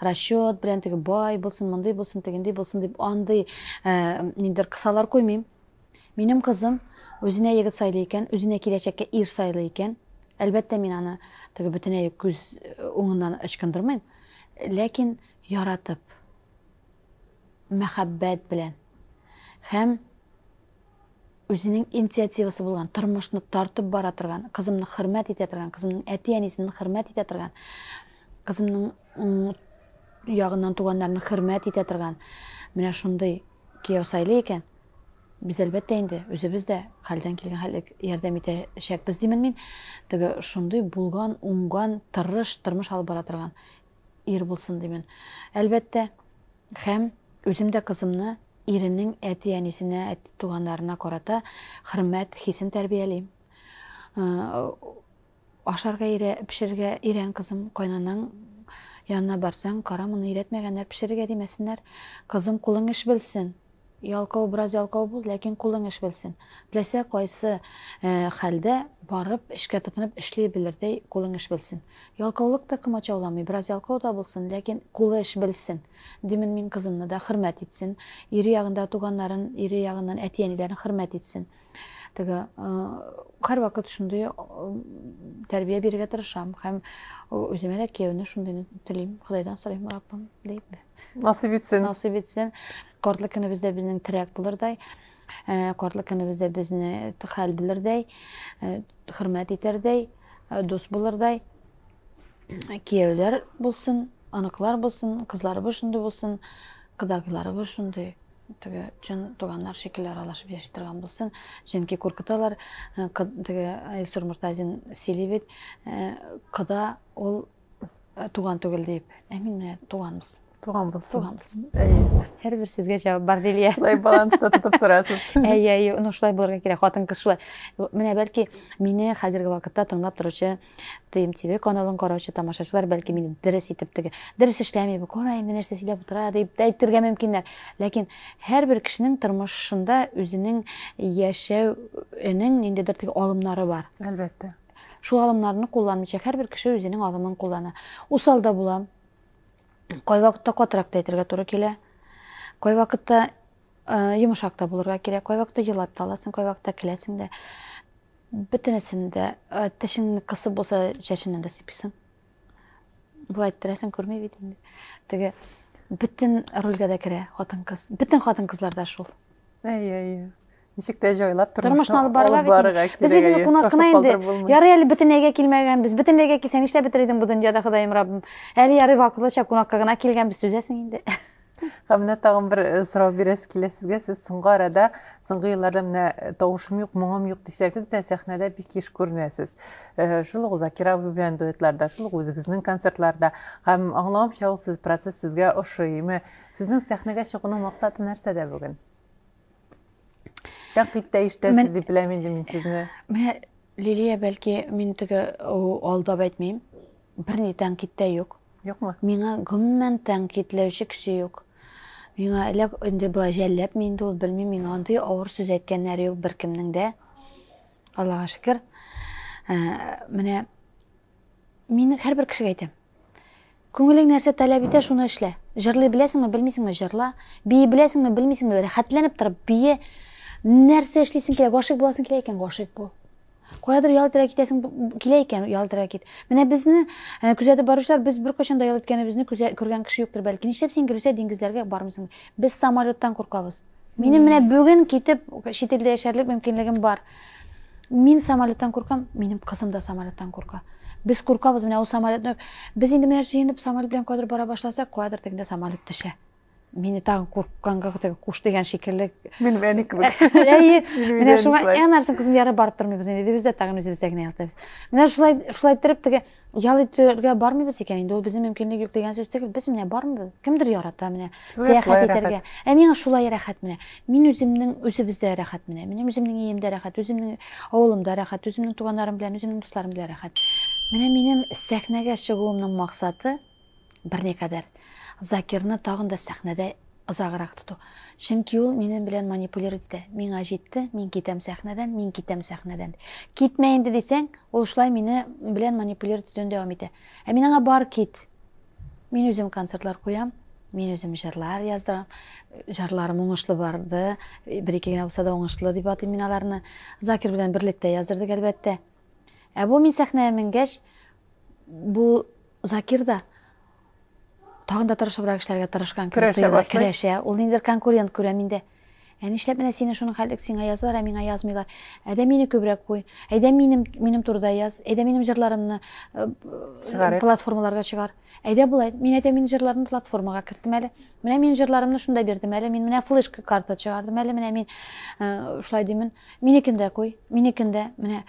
расчет белән теге бай булсын, мондый булсын, тегендей булсын дип андый ниндидер кысалар куймыйм. Минем кызым үзенә егет сайлый икән, үзенә киләчәккә ир сайлый икән, әлбәттә, мин аны теге бөтенләй үк күз уңыннан ычкындырмыйм, ләкин яратып, мәхәббәт белән һәм үзенең инициативасы булган, тормышны тартып бара торган, кызымны хөрмәт итә торган, кызымның әти-әнисен хөрмәт итә торган, кызымның ягыннан туганнарны хөрмәт итә торган, менә шундый Кияү сайлый икән, без, әлбәттә инде, үзебез дә хәлдән килгән хәтлек ярдәм итәчәкбез димен мин. Теге шундый булган, уңган, тырыш тормыш алып бара торган ир булсын димен, әлбәттә. Һәм үзем дә кызымны иренең әти-әнисенә, әти-туганнарына карата хөрмәт хисен тәрбиялим. Ашарга өйрә, пешерергә өйрән, кызым, кайнанаң янына барсаң, кара, моны өйрәтмәгәннәр, пешерергә димәсеннәр, кызым, кулың эш белсен, ялкау бераз ялкау бул, ләкин кулың эш белсен, теләсә кайсы хәлдә барып, эшкә тотынып эшли белердәй кулың эш белсен. Ялкаулык та комачауламый, бераз ялкау да булсын, ләкин кулы эш белсен, димен мин кызымны да, хөрмәт итсен, ире ягындагы туганнарын, ире ягыннан әти-әниләрен хөрмәт итсен. Теге һәрвакыт шундый тәрбия бирергә тырышам һәм үземә дә кияүне шундыйны телим, Ходайдан сорыйм, Раббым, дип. Насыйп итсен.
Насыйп итсен.
Картлык көнебездә безнең терәк булырдай, картлык көнебездә безне хәл белердәй, хөрмәт итәрдәй, дус булырдай кияүләр булсын, аныклар булсын, кызларыбыз шундый булсын, кодагыйларыбыз шундый. теге чын туганнар шикелле аралашып яши торган булсын чөнки куркыталар э, теге илсур мортазин сөйли бит э, кода ул э, туган түгел дип ә мин менә туган булсын туган булсын туган булсын һәрбер сезгә җавап бар лилия шулай баланста тотып
торасыз әйе әйе ну шулай
булырга кирәк хатын кыз шулай менә бәлки мине хәзерге вакытта тыңлап торучы Тыйм ТВ каналын караучы тамашачылар, бәлки мин дөрес итеп теге, дөрес эшләмим, кара инде нәрсә сөйләп утыра дип тә әйтергә мөмкиннәр. Ләкин һәрбер кешенең тормышында үзенең яшәүенең ниндидер теге алымнары бар. Әлбәттә.
Шул алымнарны
кулланмыйча һәрбер кеше үзенең алымын куллана. Усал да була. Кайвакытта катырак та әйтергә туры килә. Кайвакытта Йомшак та булырга кирәк. Кайвакытта елап та аласың, кайвакытта киләсең дә. Бөтенесен дә тешеңне кысып булса, чәченнән дә сыйпыйсың. Болай иттерәсең, күрми бит инде. Теге бөтен рольгә дә керә хатын-кыз. Бөтен хатын-кызлар да шул. Әйе, әйе.
Ничек тә җайлап тормышны алып барырга
кирәк. Без бит кунак кына инде. Ярый әле бөтенләйгә килмәгәнбез. Бөтенләйгә килсәң, нишләп бетер идең бу дөньяда, Ходаем Раббым? Әле ярый вакытлыча кунакка гына килгәнбез, түзәсең инде. Һәм менә
тагын бер э, сорау бирәсе килә сезгә. Сез соңгы арада, соңгы елларда менә э, тавышым юк, моңым юк дисәгез дә, сәхнәдә бик еш күренәсез. Э, шул ук Закир абый белән дуэтларда, шул ук үзегезнең концертларда. Һәм аңлавымча, ул сез процесс сезгә ошыймы? Сезнең сәхнәгә чыгуның максаты нәрсәдә бүген? Тәнкыйть тә ишетәсез дип беләм инде мин сезне. Менә
Лилия, бәлки мин теге алдап әйтмим. Берни тәнкит тә юк. Юкмы? Миңа
гомумән
тәнкитләүче кеше юк. Миңа эләк инде болай жәлләп мин инде ул белмим, миңа андый авыр сүз әйткәннәр юк беркемнең дә. Аллага шөкер. Ә, менә мин һәрбер кешегә әйтәм. Күңелең нәрсә таләп итә, шуны эшлә. Җырлый беләсеңме, белмисеңме, җырла. Бии беләсеңме, белмисеңме, рәхәтләнеп торып бии. Нәрсә эшлисең килә, гашыйк буласың килә икән, гашыйк бул. Каядыр ял итәргә китәсең килә икән, ял итәргә кит. Менә безне э, күзәтеп баручылар, без беркайчан да ял иткәнебезне күзә, күргән кеше юктыр бәлки. Нишләп син, Гөлүсә, диңгезләргә бармыйсың? Без самолеттан куркабыз. Минем менә бүген китеп чит илдә яшәрлек мөмкинлегем бар. Мин самолеттан куркам, минем кызым да самолеттан курка. Без куркабыз менә ул самолетны. Без инде менә җыенып самолет белән кадәр бара башласак, кадәр тегендә самолет төшә. Мине тагын куркканга теге куш дигән шикелле. Мин мәне
кебек. Әйе. Менә
шуңа әнәрсен кызым яры барып тормыйбыз инде. Без дә тагын үзебездә генә ялтабыз. Менә шулай шулай торып теге Ял итәргә бармыйбыз икән инде, ул безнең мөмкинлек юк дигән сүз түгел. Без менә бармыйбыз. Кемдер ярата менә сәяхәт итәргә. Ә миңа шулай рәхәт менә. Мин үземнең үзебездә рәхәт менә. Минем үземнең иемдә рәхәт, үземнең авылымда рәхәт, үземнең туганнарым белән, үземнең дусларым белән рәхәт. Менә минем сәхнәгә чыгуымның максаты, Берникадәр. Закирны тагын да сәхнәдә озаграк тоту. Чөнки ул минем белән манипулировать итә. Миңа җитте, мин китәм сәхнәдән, мин китәм сәхнәдән. Китмә инде дисәң, ул шулай мине белән манипулировать итүен дәвам итә. Ә мин аңа бар кит. Мин үзем концертлар куям, мин үзем җырлар яздырам. Җырларым уңышлы барды. Бер-ике генә булса да уңышлы дип атыйм мин аларны. Закир белән берлектә яздырдык, әлбәттә. Ә бу мин сәхнәгә менгәч, бу Закир да тагын да тырышыбрак эшләргә тырышкан кебек тоела, керәшә. Ул ниндидер конкурент күрә миндә. Ә нишләп менә сине шуның хәтлек сиңа язалар, ә миңа язмыйлар? Әйдә мине күбрәк куй. Әйдә минем минем турыда яз. Әйдә минем җырларымны платформаларга чыгар. Әйдә болай, мин әйтәм мин җырларны платформага керттем әле, менә мин җырларымны шунда бирдем әле, мин менә флешка карта чыгардым әле, менә мин шулай димен, минекен дә куй, минекен дә, менә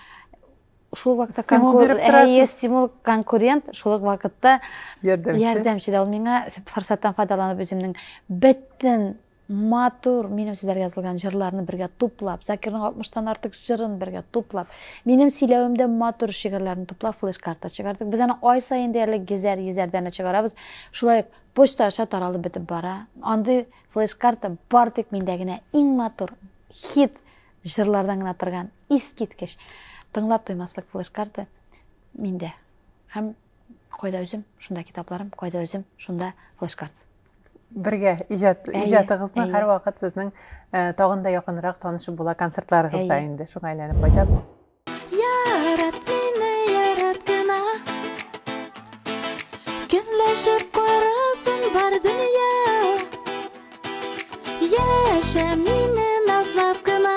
шул вакытта конкурент, стимул конкурент шул вакытта ярдәмче дә ул миңа форсаттан файдаланып үземнең бөтен Матур, минем сезләргә язылган җырларны бергә туплап, Закирның 60 тан артык җырын бергә туплап, минем сөйләвемдә матур шигырьләрне туплап флеш-карта чыгардык. Без аны ай саен диярлек гезәр, йезәрдәне чыгарабыз. Шулай ук почта аша таралып бетеп бара. Андый флеш-карта бар тик миндә генә. Иң матур, хит җырлардан гына торган, искиткеч, тыңлап туймаслык флеш-карта миндә. Һәм Кайда үзем, шунда китапларым, кайда үзем, шунда флешкарт. Бергә
иҗат иҗатыгызны һәрвакыт сезнең э, тагын да якынрак танышып була концертларыгызда инде. Шуңа әйләнеп кайтабыз. Ярат
мине, ярат кына. Көнләшеп карасын бар дөнья. Яшә мине назлап кына.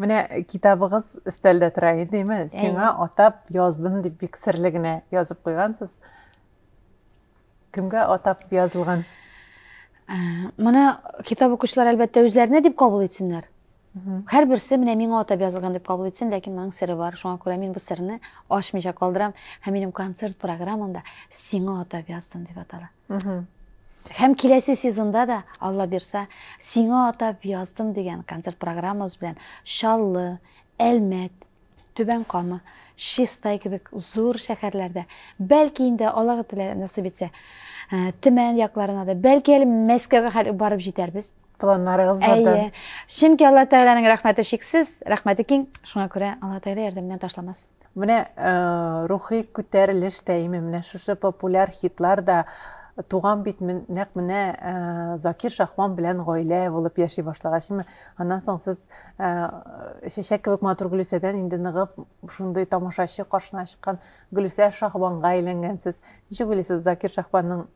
Менә
китабыгыз өстәлдә тора идеме? Сиңа атап яздым дип бик серле генә язып куйгансыз. Кемгә атап язылган? Ә,
моны китап укучылар әлбәттә үзләренә дип кабул итсеннәр. Һәрберсе менә миңа атап язылган дип кабул итсен, ләкин моның сере бар. Шуңа күрә мин бу серне ачмыйча калдырам һәм минем концерт программамда сиңа атап яздым дип атала. Һәм киләсе сезонда да, Алла бирса, Сиңа атап яздым дигән концерт программабыз белән Чаллы, Әлмәт, Түбән Кама, Чистай кебек зур шәһәрләрдә, бәлки инде Аллага теләр насыйп итсә, э, Төмән якларына да, бәлки әле Мәскәүгә хәл барып җитәрбез. Планнарыгыз бардан.
Әйе. Чөнки Алла
Тәгаләнең рәхмәте чиксез, рәхмәте киң, шуңа күрә Алла Тәгалә ярдәменнән ташламас. Менә
рухи күтәрелеш тәиме, менә шушы популяр хитлар да туган бит нәкъ менә Закир Шахман белән гаилә булып яши башлагач, аннан соң сез чәчәк кебек матур Гөлүсәдән инде ныгып шундый тамашачы каршына чыккан Гөлүсә Шахманга әйләнгәнсез. Ничек уйлыйсыз, Закир Шахманның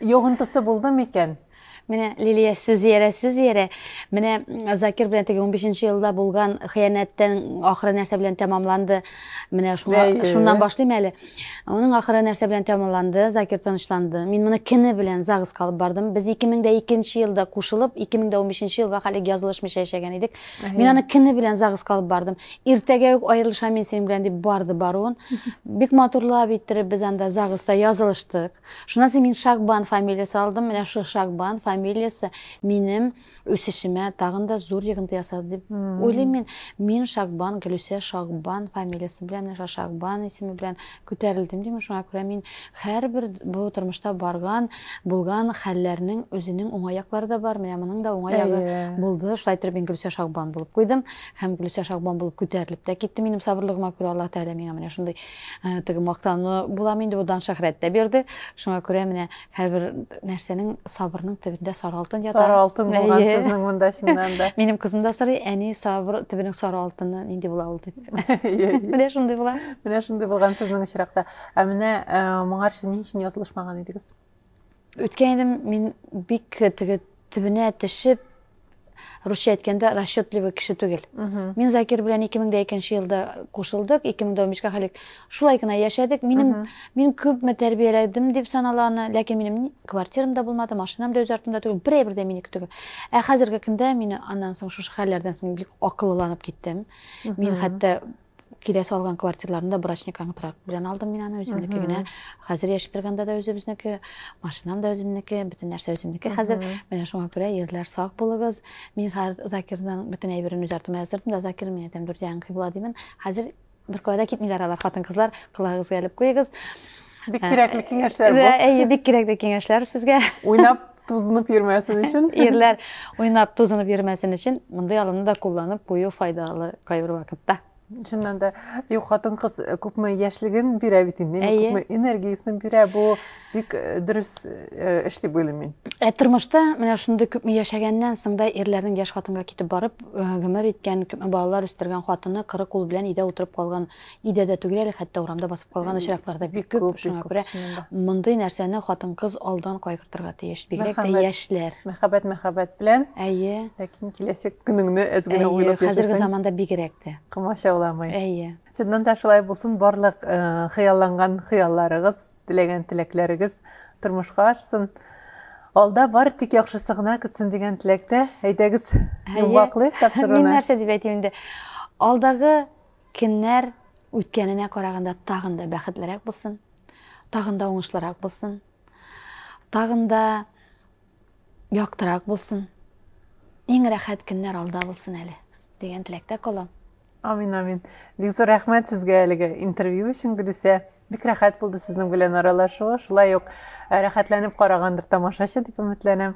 йогынтысы булды микән? Менә Лилия
сүз иярә, сүз иярә. Менә Закир белән теге 15 елда булган хыянәттән ахыры нәрсә белән тәмамланды? Менә шуңа, шуннан башлыйм әле. Аның ахыры нәрсә белән тәмамланды? Закир тынычланды. Мин моны кене белән загыз калып бардым. Без 2002 елда кушылып, 2015 елга хәлек язылышмыйча яшәгән идек. Мин аны кене белән загыска алып бардым. Иртәгә үк аерылышам мин синең белән дип барды баруын. Бик матурлап иттереп без анда загыста язылыштык. Шуннан соң мин Шагбан фамилиясе алдым. Менә шул Шагбан фамилиясе минем үсешемә тагын да зур йогынты ясады дип уйлыйм мин. Мин Шагбан Гөлүсә Шагбан фамилиясе белән, менә Шагбан исеме белән Күтәрелдем, дим, шуңа күрә мин һәрбер бу тормышта барган, булган хәлләрнең үзенең уңай яклары да бар, менә моның да уңай ягы булды. Шулай итеп мин Гөлүсә Шагбан булып куйдым һәм Гөлүсә Шагбан булып күтәрелеп тә киттем. Минем сабырлыгыма күрә Аллаһ Тәгалә миңа менә шундый теге мактану булам инде, бу дан-шәһрәт тә бирде. Шуңа күрә менә Һәрбер нәрсәнең сабырның төбендә сары алтын ята. Сары алтын булган сезнең
монда чыннан да. Минем кызым да сорый, әни
сабыр төбенең сары алтыны нинди була ул дип. Менә шундый була. Менә шундый булган
сезнең очракта. Ә менә моңарчы ни өчен язылышмаган идегез? Үткән
идем мин бик теге Төбенә төшеп, русча әйткәндә расчетливый кеше түгел. Мин Закир белән 2002 елда кушылдык, 2015 га хәлек шулай гына яшәдек. Минем мин күпме тәрбияләдем дип санала аны, ләкин минем квартирам да булмады, машинам да үз артымда түгел, бер әйбер дә минеке түгел. Ә хәзерге көндә мин аннан соң шушы хәлләрдән соң бик акыллыланып киттем. Мин хәтта киләсе алган квартираларында брачный контракт белән алдым мин аны үземнеке генә хәзер яшәп торганда да үзебезнеке машинам да үземнеке бөтен нәрсә үземнеке хәзер менә шуңа күрә ерләр сак булыгыз мин хәзер закирның бөтен әйберен үз артыма яздырдым да закир мин әйтәм дүрт ягың кыйбла димин хәзер бер кая да китмиләр алар хатын кызлар колагыгызга элеп куегыз Бик кирәкле
киңәшләр бу. Әйе, бик кирәкле
киңәшләр сезгә. Уйнап тузынып
йөрмәсен өчен. Ирләр уйнап
тузынып йөрмәсен өчен мондый алымны да кулланып кую файдалы кайбер вакытта. Чыннан да,
юк хатын кыз күпме яшьлеген бирә бит инде, күпме энергиясен бирә, бу бик дөрес эш дип уйлыйм мин. Ә тормышта менә
шундый күпме яшәгәннән соң да ирләрнең яшь хатынга китеп барып гомер иткән, күпме балалар үстергән хатыны кырык ул белән өйдә утырып калган Өйдә дә түгел әле, хәтта урамда басып калган очраклар да бик күп. Шуңа күрә мондый нәрсәне хатын-кыз алдан кайгыртырга тиеш, бигрәк тә яшьләр. Мәхәббәт мәхәббәт
белән. Әйе. Ләкин
киләчәк
көнеңне әз генә уйлап яшәсәң. Әйе, хәзерге заманда бигрәк тә.
Комачауламый. Әйе.
Чыннан
да шулай
булсын, барлык э, хыялланган хыялларыгыз, теләгән теләкләрегез тормышка ашсын. Алда бар тик яхшысы гына көтсен дигән теләктә. Әйдәгез, йомгаклыйк тапшыруны. Мин нәрсә дип әйтим инде?
Алдагы Көннәр үткәненә караганда тагын да бәхетлерәк булсын, тагын да уңышлырак булсын, тагын да яктырак булсын, иң рәхәт көннәр алда булсын әле, дигән теләктә калам. Амин, амин.
Бик зур рәхмәт сезгә әлеге интервью өчен, Гөлүсә. Бик рәхәт булды сезнең белән аралашу. Шулай ук э, рәхәтләнеп карагандыр тамашачы дип өметләнәм.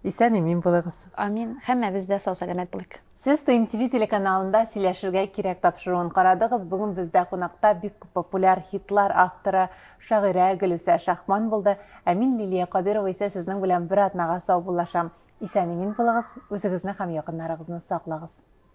Исән имин булыгыз. Амин. Һәммәбез дә
сау сәламәт булыйк. Сез ТМ ТВ
телеканалында сөйләшергә кирәк тапшыруын карадыгыз. Бүген бездә кунакта бик күп популяр хитлар авторы, шагыйрә Гөлүсә Шахман булды. Ә мин Лилия Кадырова исә сезнең белән бер атнага саубуллашам. Исән-имин булыгыз, үзегезне һәм якыннарыгызны саклагыз.